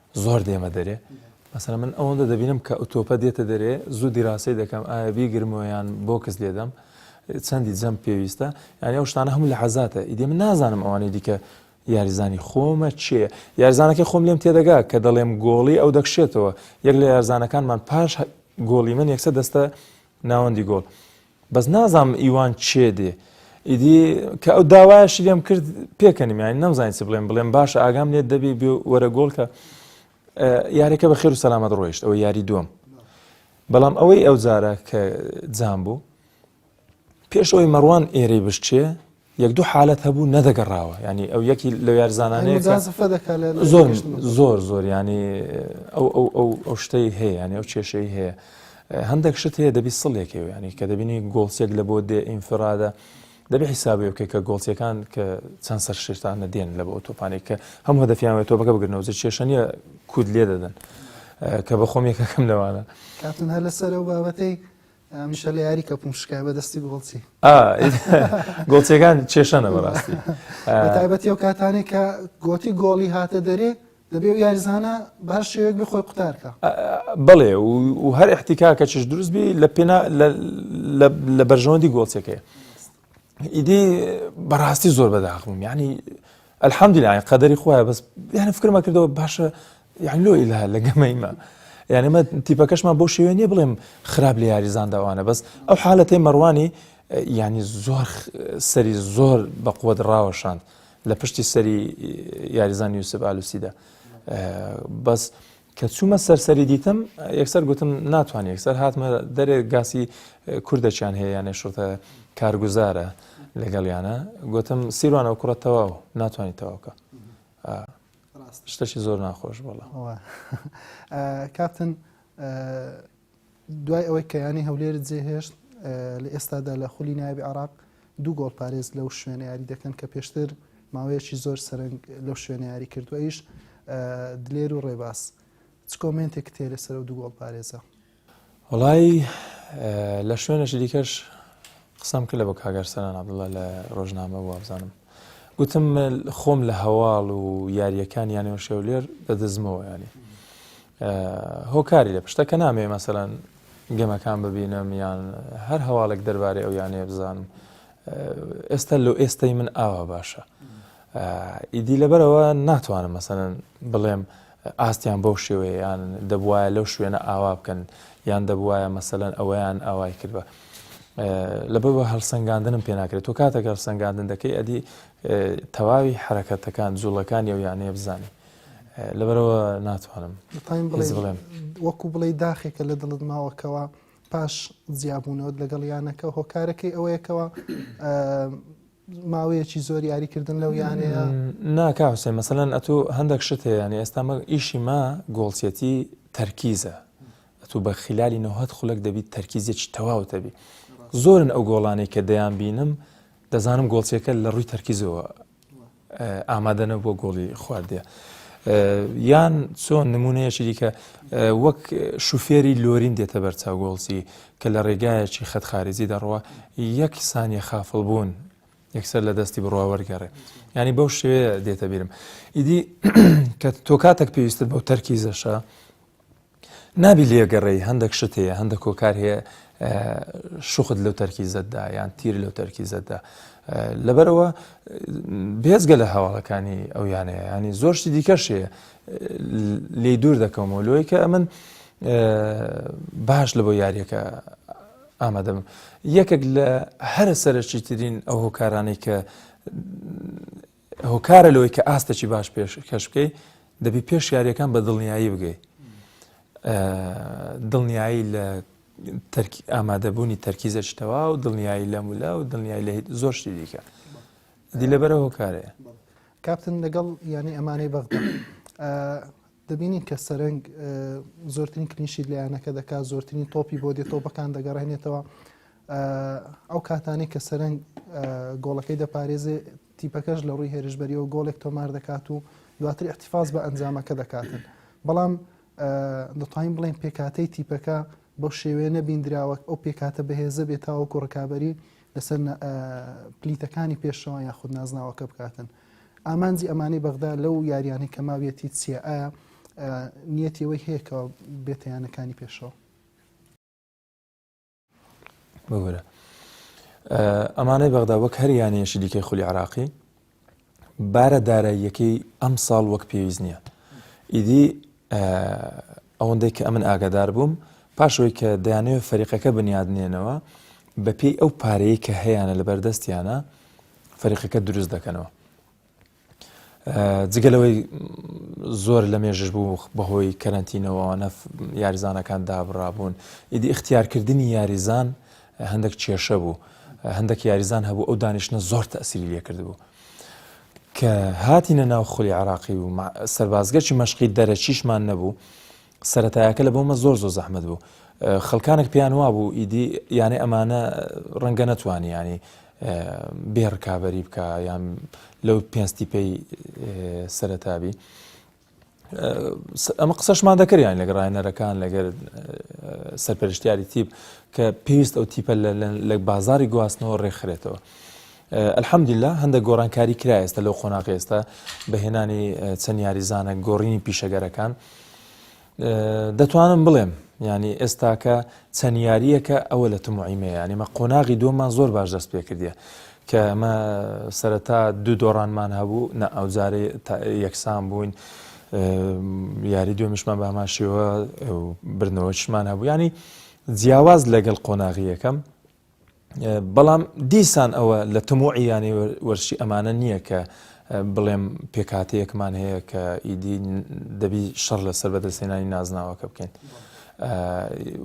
زۆر دێمە دەرێ مەسەلەن من ئەوەندە دەبینم کە ئۆتۆپە دێتە دەرێ زوو دیراسەی دەکەم ئایا بیگرمەوەیان بۆکس لێدەم چەندی جەم پێویستە یانی ئەو شتانە هەموو لە حەزاتە ئیدێ من نازانم ئەوانەی دیکە یاریزانی خۆمە چێ یارزانەکە خۆم لێم تێدەگا کە دەڵێم گۆڵی ئەو دەکشێتەوە یەک لە یارزانەکانمان پاش گۆڵی من یەکسە دەستە ناوەندی گۆڵ بەس نازانم ئیوان چێ دێ ئیدی کە ئەو داوایشی لێم کرد پێکەنیم یانی نەمزانین چ بڵێم بڵێم باش ئاگام لێت دەبی بێ وەرە گۆڵ کە یاریەکە بە خێر و سەلامەت ڕۆیشت ئەوە یاری دوم بەڵام ئەوەی ئەو جارە کە جام بوو پێش ئەوی مەڕوان ئێرەی بشتێ یەک دوو حالەت هەبوو نەدەگەڕاوە ینی ئەو یەکی لە یارزانانەیە زۆر زۆر زۆر ینی ئەو ئەو ئەو ئەو شتەی هەیە ینی ئەو کێشەی هەیە هەندێک شت هەیە دەبی سڵێکی و ینی کە دەبینی گۆڵسێک لە بۆ دێ ئینفرادە دەبێ حیسابەکە کە گۆڵچەکان کە چەند سەر شێتانە دێن لە بۆ تۆپانی کە هەم هەدەفیانەوە تۆپەکە بگرنەوە کێشە نیە کود لێ دەدەن کە بە خۆم یەکەکەم لەوانە کاتون هەر لەسەر ئەو بابەتەی هەمیشە لە یاری کەپوم شکای بە دەستی گۆڵچی ئا گۆڵچەکان چێشەنە بەڕاستی بە تایبەتی ئەو کاتانێک کە گۆتی گۆڵی هاتە دەرێ دەبێ و یاریزانە باش شێوێک بێ خۆی قوتارکە ئا، بەڵێ و و هەر احتیکاکەکیش دروست بی لە پێنا لە لە لە بەرژەوەندی گۆڵچەکەی ئیدی بەڕاستی زۆر بەداخم ینی ئەلحەمدیلای قەدەری خۆیان بەس یانە فکرمە کردەوە باشە یان لۆ ئیلا لە گەمەیمە یانەمە تیپەکەشمان بۆ شێوێن نیە بڵێم خراپ لە یاریزانداوانە بەس ئەو حالەتی مەڕوانی ینی زۆر سەری زۆر بە قووەت ڕاوەشاند لە پشتی سەری یاریزان یوسف ئالوسیدا بەس کە چوومە سەر سەری دیتم یەکسەر گوتم ناتوانانی یەکسەر هاتمە دەرێ گاسی کوردەچیان هەیە یانێ شتە کارگوزارە لەگەڵیانە گوتم سیروانە و کوڕە تەواو ناتوانانی تەواوکە شتەشی زۆر ناخۆش بڵە کاپتن دوای ئەوەی کە یانەی هەولێرت جێهێشت، لە ئێستادا لە خولی نایابی عێراق دوو گۆڵپارێز لەو شوێنە یاری دەکەن کە پێشتر ماوەیەکی زۆر سەرنگ لەو شوێنە یاری کردو ئەویش دلێر و ڕێباز چ کۆمێنتێکت هەیە لەسەر ئەو دوو گۆڵپارێزە؟ وەڵایی لە شوێنێکی دیکەش قسەم کرد لە بۆ کاک ئەرسەلان عەبدوڵڵا لە ڕۆژنامە بوو وابزانم گوتم خۆم لە هەواڵ و یارییەکان یانەوە شێولێر دەدزمەوە یانی هۆکاری لە پشتە کە نامەوێ مەسەلەن گەمەکان ببینم یان هەر هەواڵێک دەربارەی ئەو یانەیە بزانم ئێستا لۆ ئێستای من ئاوا باشە ئیدی لەبەرەوە ناتوانم مەسەن بڵێم ئاستیان بەو شێوەیەیان دەبواە لەو شوێنە ئاوا بکەن یان دەبواە مەسەەن ئەوەیان ئاوای کردوە لەبەر بە هەڵسەنگاندنم پێ ناکرێت و کاتەکە هەڵسەنگاندن دەکەی ئەدی تەواوی حرەکەتەکان جوڵەکان یو یانەیە بزانانی لەبەرەوە ناتوانم هیچ بڵێم. وەکو بڵێ داخێکە لە دڵت ماوەکەوە پاش جیابوونەوەت لەگەڵ یانەکە هۆکارەکەی ئەوەیەکەوە ماوەیەکی زۆر یاریکردن لەو یانەیە ناکا حوسێ مەسەەن ئەتو هەندێک شت هەیە ینی ئێستا مە ئیشی ما گۆڵچێتی تەرکیزە ئەتو بە خلالی نەهت خولک دەبیت تەرکیزێکی تەواوتەبی زۆرن ئەو گۆڵانەی کە دەیان بینم دەزانم گۆڵچێکە لە ڕووی تەرکیزەوە ئامادەنەبووە گۆڵی خواردیە یان چۆن نمونەیەکی دیکە وەک شوفێری لۆرین دێتە بەرچاو گۆڵسی کە لە ڕێگایەکی خەتخارزی دەڕوە یەک سانیە خافڵ بوون یەکسەر لە دەستی بڕوا وەرگەڕێ ینی بەو شێوێ دێتە بیرم ئیدی کە تۆ کاتێک پێویستت بەو تەرکیزەشە نابی لێ گەڕێی هەندەک شت هەیە هەندەک کۆکار هەیە شوخت لەو تەرکیزەتدا یان تیر لەو تەرکیزەتدا لەبەرەوە بێزگە لە هەواڵەکانی ئەو یانەیە ینی زۆرشتی دیکەش هەیە لی دوور دەکەمەوە لۆی کە ئەمن باش لە بۆ یاریەکە ئامادەم یەکێک لە هەرە سەرەکی ترین ئەو هۆکارانەی کە هۆکارە لەوەی کە ئاستێکی باش پێشکەش بکەی دەبی پێش یاریەکان بە دڵنیایی بگەی دڵنیایی لە ئامادەبوونی تەرکیزەکی تەوا و دڵنیایی لە مولا و دڵنیایی لە زۆر شتی دیکە دی لە بەرە هۆکارەیە کاپتن لەگەڵ ینی ئەمانەی بەغ دەبینین کە سەرنگ زۆرترین کلیشی لایەنەکە دەکات زۆرترین تۆپی بۆ دێت تۆپەکان دەگەڕێنێتەوە ئەو کاتانی کە سەرنگ گۆڵەکەی دەپارێزێ تیپەکەش لە رووی هێرشبەرییەوە گۆڵێک تۆمار دەکات و دواتر ئیحتیفاز بە ئەنجامەکە دەکاتن، بەڵام دەتوانین بڵێین پێکهاتەی تیپەکە بەو شێوەیە نەبیندراوە ئەو پێکهاتە بەهێزە بێت تاوەکو ڕکابەری لەسەر پلیتەکانی پێشەوە یاخود نازناوەکە بکاتن. ئامانجی ئەمانەی بەغدا لەو یاریانەی کە ماویەتی چییە ئایا نیەتیەوەی هەیەکەوە بێتیانەکانی پێشەوە. ببورە ئەمانەی بەغدا وەک هەر یانەیەشی دیکەی خولی عراقی بارە داراییەکەی ئەم ساڵ وەک پێویست نییە ئیدی ئەوەندەی کە ئەمن ئاگادار بووم پاشەوەی کە دەیانەوە فەریقەکە بنیادنێنەوە بەپێی ئەو پارەیە کە هەیەە لە بەردەستیانە فەریقەکە دروست دەکەنەوە جگە لەوەی زۆر لە مێژش بوو بەهۆی کەرەنتینەوەوانە یاریزانەکان دابڕابوون ئیدی اختیارکردنی یاریزان هەندێک کێشە بوو هەندێک یاریزان هەبوو ئەو دانیشتە زۆر تەسیری لێکرد بوو کە هاتینە ناو خولی عراقی و سەربازگەچی مەشقی دەرەچیشمان نەبوو سەرەتایەکە لە بۆمە زۆر زۆر زەحمەت بوو خەلکانێک پێیان وابوو ئیدی یانێ ئەمانە ڕەنگە نەتوانیانی بێ ڕکابی بکە یان لەو پێنجتی پێی سەرتابی ئەمە قسەشمان دەکەیان لەگە ڕایەنەرەکان لەگەر سەرپەرشتیاری تیپ کە پێویست ئەو تیپە لە بازاری گواستنەوە ڕێکخرێتەوە. ئەلحەمدیلا هەندە گۆڕانکاری کرا ئێستا لەو قۆناغ ئێستا بەهێنانی چەند یاریزانە گۆڕینی پیشەگەرەکان دەتوانم بڵێم ینی ئێستاکە چەند یاریەکە ئەوە لە تموعیمێ ینیمە قۆناغی دومان زۆر باش دەست پێ کردە کە ئەمە سەرەتا دوو دۆڕانمان هەبوو نە ئەوجارێ یەکسان بووین یاری دوێمشمان باماشەوە بردنەوەشمان هەبوو ینی جیاواز لەگەڵ قۆناغی یەکەم بەڵام دیسان ئەوە لە تەمۆعی یانەی وەرشی ئەمانە نییە کە بڵێم پێکاتەیەکمان هەیە کە ئیدی دەبی شەڕ لەسەر بەدەستێنانی نازناوەکە بکەین.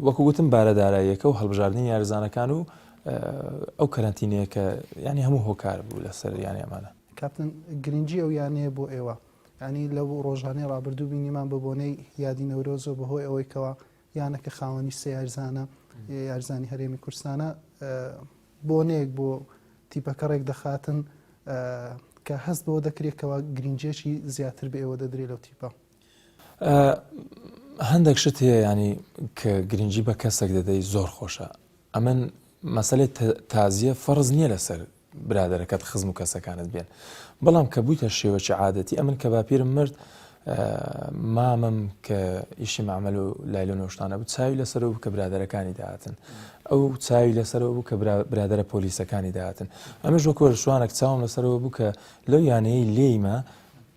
وەکو گوتم بارە داراییەکە و هەڵبژاردننی یارزانەکان و ئەو کەرەنتینەیە کە ینی هەموو هۆکار بوو لەسەر یانی ئەمانە کاپتن گرنگجی ئەو یانەیە بۆ ئێوە ینی لەو ڕۆژانەی ڕابردوو بینیمان بە بۆنەی یادی نەورۆزۆ بەهۆی ئەوەی کەەوە یانە کە خاوەنی سێ یارزانە یارزانی هەرێمی کورسانە بۆنەیەک بۆ تیپەکە ڕێک دەخاتن کە هەست بەوە دەکرێتەوە گرنجێکی زیاتر بە ئێوە دەدرێت لەو تیپە هەندێک شت هەیە ینی کە گرنگجی بە کەسێک دەدەی زۆر خۆشە ئەمن مەسلێت تازیە فەرز نییە لەسەر برادەرەکەت خزم و کەسەکانت بێن بەڵام کە بوویتە شێوەکی عادەتی ئەمن کە باپیرم مرد مامم کە ئیشی مامەل و لای لە نۆشتانە بوو چاوی لەسەر بوو کە برادەرەکانی داهاتن ئەو چاوی لەسەرەوە بوو کە برادرە پۆلیسەکانی داهاتن ئەمەش وەکۆ شوانێک چاوم لەسەرەوە بوو کە لەو یانەیە لێیمە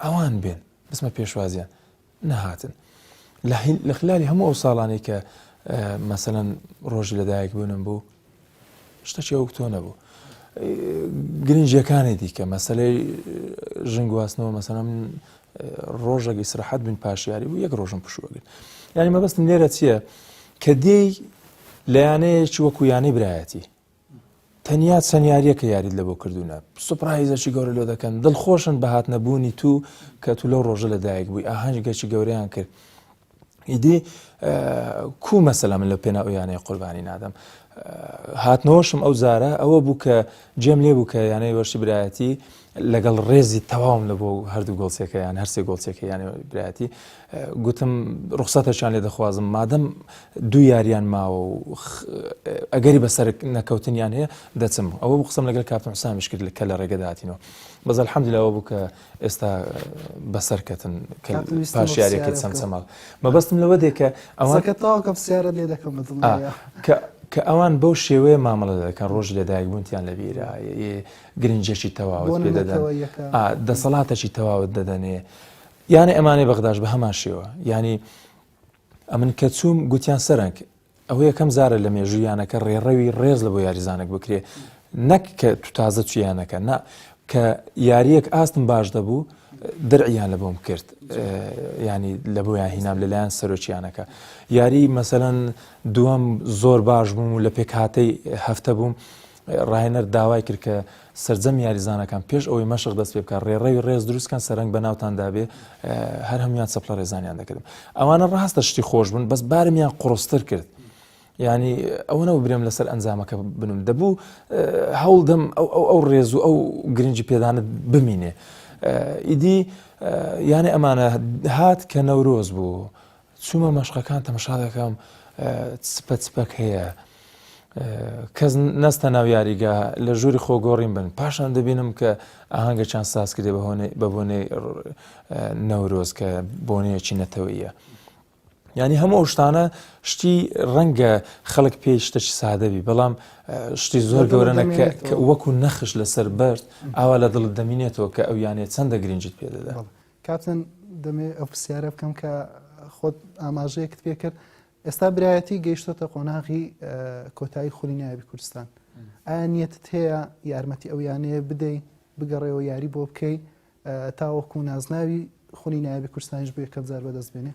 ئەوان بێن بسمە پێشوازیان نەهاتن لە خلالی هەموو ئەو ساڵانەی کە مەسەەن ڕۆژی لەدایک بوونم بوو شتەکی ئەو تۆ نەبوو گرنجەکانی دیکە مەسلەی ژن گواستنەوە مەسەم ڕۆژە ئیسرحەت بن پاشیاری بوو یەک ڕۆژم پشوەگرن ینی مەبەستم لێرە چییە کە دێی لە یانەیەکی وەکو یانەی برایەتی تەنیا چەند یاریەکە یاریت لە بۆ کردوونە سوپرایزەکی گەورە لۆ دەکەن دڵخۆشن بە هات نەبوونی تو کە تو لەو ڕۆژە لە دایک بووی ئاهەنج گەچی گەوریان کرد ئیدی کو مەسەلا من لە پێنا ئەویانەیە قوربانی نادەم هاتنەوەشم ئەو زارە ئەوە بوو کە جێم لێ بوو کە یانەی وەرشی برایەتی لەگەڵ ڕێزی تەواوم لە بۆ هەردوو گۆڵچەکە یان هەرسێ گۆڵچەکە یانە برایەتی گوتم ڕوخساتەشان لێ دەخوازم مادەم دوو یاریان ماوە و ئەگەری بەسەر نەکەوتنیان هەیە دەچم ئەوە قسم لەگەر کاپتن حسامیش کرد کە لە ڕێگەداتینەوە بەز الحەمدلاوە بوو کە ئێستا بەسەرکەتن پاش یاریەکە چەند سەماڵ مەبەستم لەوە دێکە ئەوەکە تاوکە سیارە لێ دەکەم کە ئەوان بەو شێوەیە مامەڵە دەکەن ڕۆژ لەدایک بوونتیان لە بیرە گرنجێکی تەواوت پێ دەدەن دەسەڵاتەکی تەواوت دەدەنێ یانە ئەمانەی بەغداش بە هەمان شێوە ینی ئەمن کە چووم گوتیان سەرنگ ئەوە یەکەم زارە لە مێژوویانەکە ڕێڕەوی ڕێز لە بۆ یاریزانێک بکرێ نەک کە تو تازە چیانەکە نا کە یاریەک ئاستم باش دەبوو درعیان لە بۆم کرد ینی لە بۆیان هینام لەلایەن سەرۆکیانەکە یاری مەسەەن دووەم زۆر باش بووم و لە پێکهاتەی هەفتە بووم راهێنەر داوای کرد کە سەرجەم یاریزانەکان پێش ئەوەی مەشق دەست پێ بکات رێڕەوی رێز دروستکەن سەرنگ بە ناوتاندا بێ هەر هەموان چەپلە رێزانیان دەکردم ئەوانە راستە شتی خۆش بن بەس بارمیان قڕستر کرد. ینی ئەوە نەوە برێم لەسەر ئەنجامەکە بنم دەبوو هەوڵ دەم ئەو ئەو ئەو ڕێز و ئەو گرنگی پێدانت بمینێ ئیدی یانە ئەمانە هات کە نەورۆز بوو چومە مەشقەکان تەمەشا دەکەم چپە چپەک هەیە کەس نەستە ناو یاریگا لە ژووری خۆ گۆڕین بن پاشان دەبینم کە ئاهنگەکان ساز کرێ بە بۆنەی نەورۆز کە بۆنەیەکی نەتەوەیە ینی هەموو ئەو شتانە شتی ڕەنگە خەڵک پێی شتەکی سادەبی بەڵام شتی زۆر گەورەنە کە وەکو نەخش لەسەر بەرد ئاوا لە دڵت دەمینێتەوە کە ئەو یانێ چەندە گرنگجیت پێ دەدا کاپتن دەمەوێت ئەو پرسیارە بکەم کە خۆت ئاماژەیەکت پێ کرد ئێستا برایەتی گەیشتۆتە قۆناغی کۆتایی خولی نایبی کوردستان ئایا نیەتت هەیە یارمەتی ئەو یانەیە بدەی بگەڕێەوە یاری بۆ بکەی تاوەکو نازناوی خولی نایبی کوردستانیش بۆ یەکەم جار بەدەست بێنێ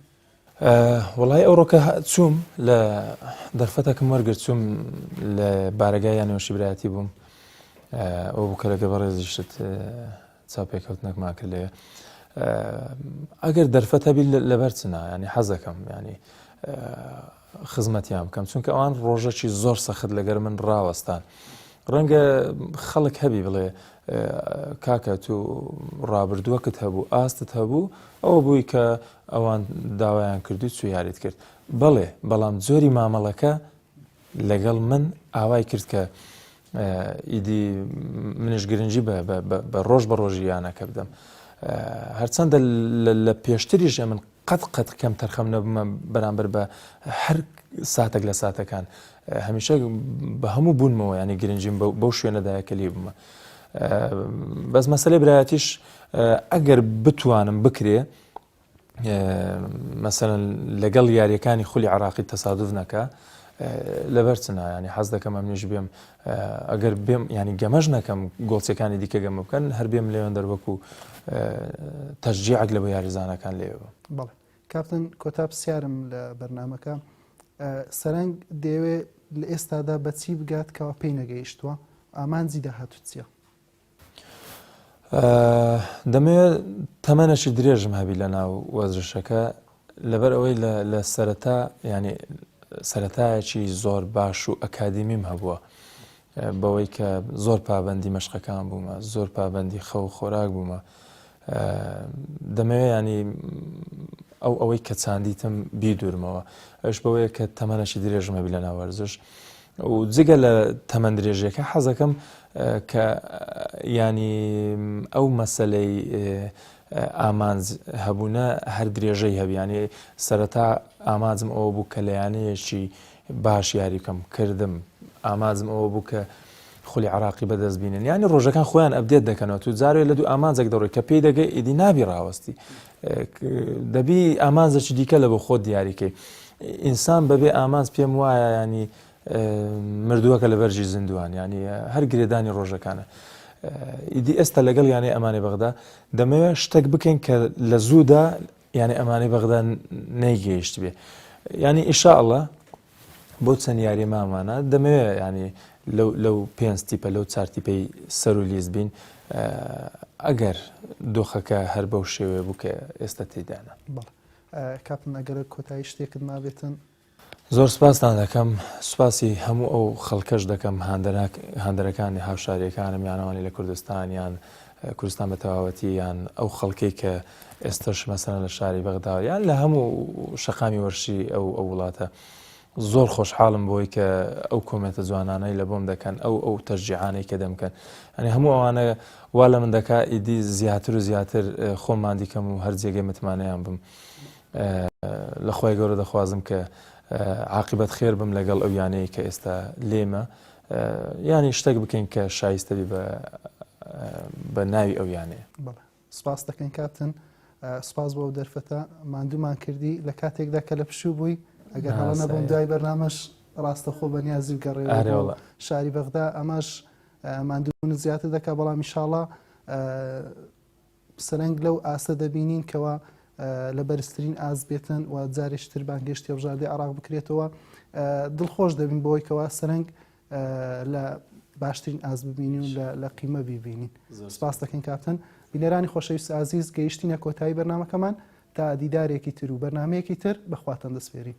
وڵی ئەوڕۆکە چووم لە دەرفەتەکەم وەرگرت چوم لە بارگای یانەوەشی برایەتی بووم ئەو بکە لەگە بەڕێزیشت چاوپێکەوتنەکمان کرد لێ ئەگەر دەرفەت هەبی لەبەر چنا ینی حەزەکەم ینی خزمەتیان بکەم چونکە ئەوان ڕۆژەکی زۆر سەخت لەگەر من ڕاوەستان. ڕەنگە خەڵک هەبی بڵێ کاکە تو ڕابردووەکت هەبوو ئاستت هەبوو ئەوە بووی کە ئەوان داوایان کردو چو یاریت کرد بەڵێ بەڵام جۆری مامەڵەکە لەگەڵ من ئاوای کرد کە ئیدی منیش گرنگی بە ڕۆژ بە ڕۆژی یانەکە بدەم هەرچەندە لە پێشتریش ئە من قەت قەت کەم تەرخەم نەبمە بەرامبەر بە هەر ساتێک لە ساتەکان هەمیشە بە هەموو بوونمەوە ینی گرنگیم بەو شوێنەدایە کە لی بمە بەس مەسلەی برایەتیش ئەگەر بتوانم بکرێ مەسەلەن لەگەڵ یاریەکانی خولی عراقی تەسادف نەکە لەبەر چ نایانی حەز دەکەم ئەمنیش بێم ئەگەر بێم ینی گەمەش نەکەم گۆڵچەکانی دیکە گەمە بکەن هەر بێم لێوێن دەروەکو تەرجیعک لە بە یاریزانەکان لێوە بەڵێ کاپتن کۆتا پرسیارم لە بەرنمەکە سەرنگ دەیەوێت لە ئێستادا بەچی بگات کەوا پێی نەگەیشتووە ئامانجی داهاتوچیە دەمەوێت تەمەنەشی درێژم هەبی لە ناو وەزرشەکە لەبەر ئەوەی لە سەرەتا ینی سەتایەکی زۆر باش و ئەکادیمیم هەبووە بەوەی کە زۆر پابندی مەشقەکان بوومە زۆر پابندی خەو خۆراک بوومە دەمەوێ یانی ئەو ئەوەی کە چاندیتم بیدورمەوە ئەش بەوەیە کە تەمەنەشی درێژم هەبی لە ناوەرزش و جگە لە تەمەند درێژەکە حەزەکەم کە ینی ئەو مەسلەی ئامانج هەبوونە هەر درێژەی هەبیانی سەرەتا ئاماجم ئەوە بوو کە لەیانەیەکی باش یاری بکەم کردم ئامانجم ئەوە بوو کە خولی عراقی بەدەست بینن یانی ڕۆژەکان خۆیان ئەبدێت دەکەنەوە تو جارێ لە دوو ئامانجێک دەڕۆی کە پێی دەگە ئیدی نابی ڕاوەستی دەبی ئامانجێکی دیکە لە بۆ خۆت دیاریکەی ئینسان بەبێ ئامانج پێم وایە ینی مردووەکە لە بەرژی زیندوان ینی هەر گرێدانی ڕۆژەکانە ئیدی ئێستا لەگەڵ یانەی ئەمانی بەغدا دەمەوێت شتێک بکەین کە لە زوودا یانی ئەمانەی بەغدا نەیگەیشت بێ ینی ئیشاءله بۆ چەند یاری مامانە دەمەوێت ینی لەو پێنج تیپە لەو چارتیپەی سەر و لیز بین ئەگەر دۆخەکە هەر بەو شێوێ بوو کە ئێستا تێدانە کاپم ئەگەرە کۆتایی شتێکت مابێتن زۆر سپاستان دەکەم، سپاسی هەموو ئەو خەڵکەش دەکەم هاندەرەکانی هاوشاریەکانم یان ئەوانەی لە کوردستان یان کوردستان بە تەواوەتی یان ئەو خەڵکەی کە ئێستش مەسەن لە شاری بەغدا یان لە هەموو شەقامی وەرشی ئەو ئەو وڵاتە زۆر خۆشحاڵم بۆی کە ئەو کۆمێتە جوانانەی لە بۆم دەکەن ئەو ئەو تەرجیعانەی کە دەمکەن ئەنی هەموو ئەوانە وا لە من دەکا ئیدی زیاتر و زیاتر خۆماندیکەم و هەر جێگەی متمانەیان بم لە خوای گەورە دەخوازم کە عاقیبەت خێر بم لەگەڵ ئەو یانەیە کە ئێستا لێمە یانی شتێک بکەین کە شایستە بێ بە ناوی ئەو یانەیە سپاس دەکەین کاپتن سپاس بۆ دەرفەتە مادوومان کردی لە کاتێکدا کە لە پشوو بووی ئەگەر هەڵە نەبووم دوای بەرنامەش ڕاستەخۆ بە نیازی گەڕێ شاری بەغدا ئەمەش مادوون زیاتر دەکە بەڵام میشاڵە سەرەنگ لەو ئاستە دەبینین کەوا لە بەرزترین ئاست بێتن و جارێکی تر بانگهێشتی هەڵبژاردەی عێراق بکرێتەوە دڵخۆش دەبین بەوەی کەوا سەرەنگ لە باشترین ئاست ببینی و لە قیمە بیبینین سپاس دەکەین کاپتن بینەرانی خۆشەویست ئازیز گەیشتینە کۆتایی بەرنمەکەمان تا دیدارێکی تر و بەرنمەیەکی تر بەخواتەن دەسپێرین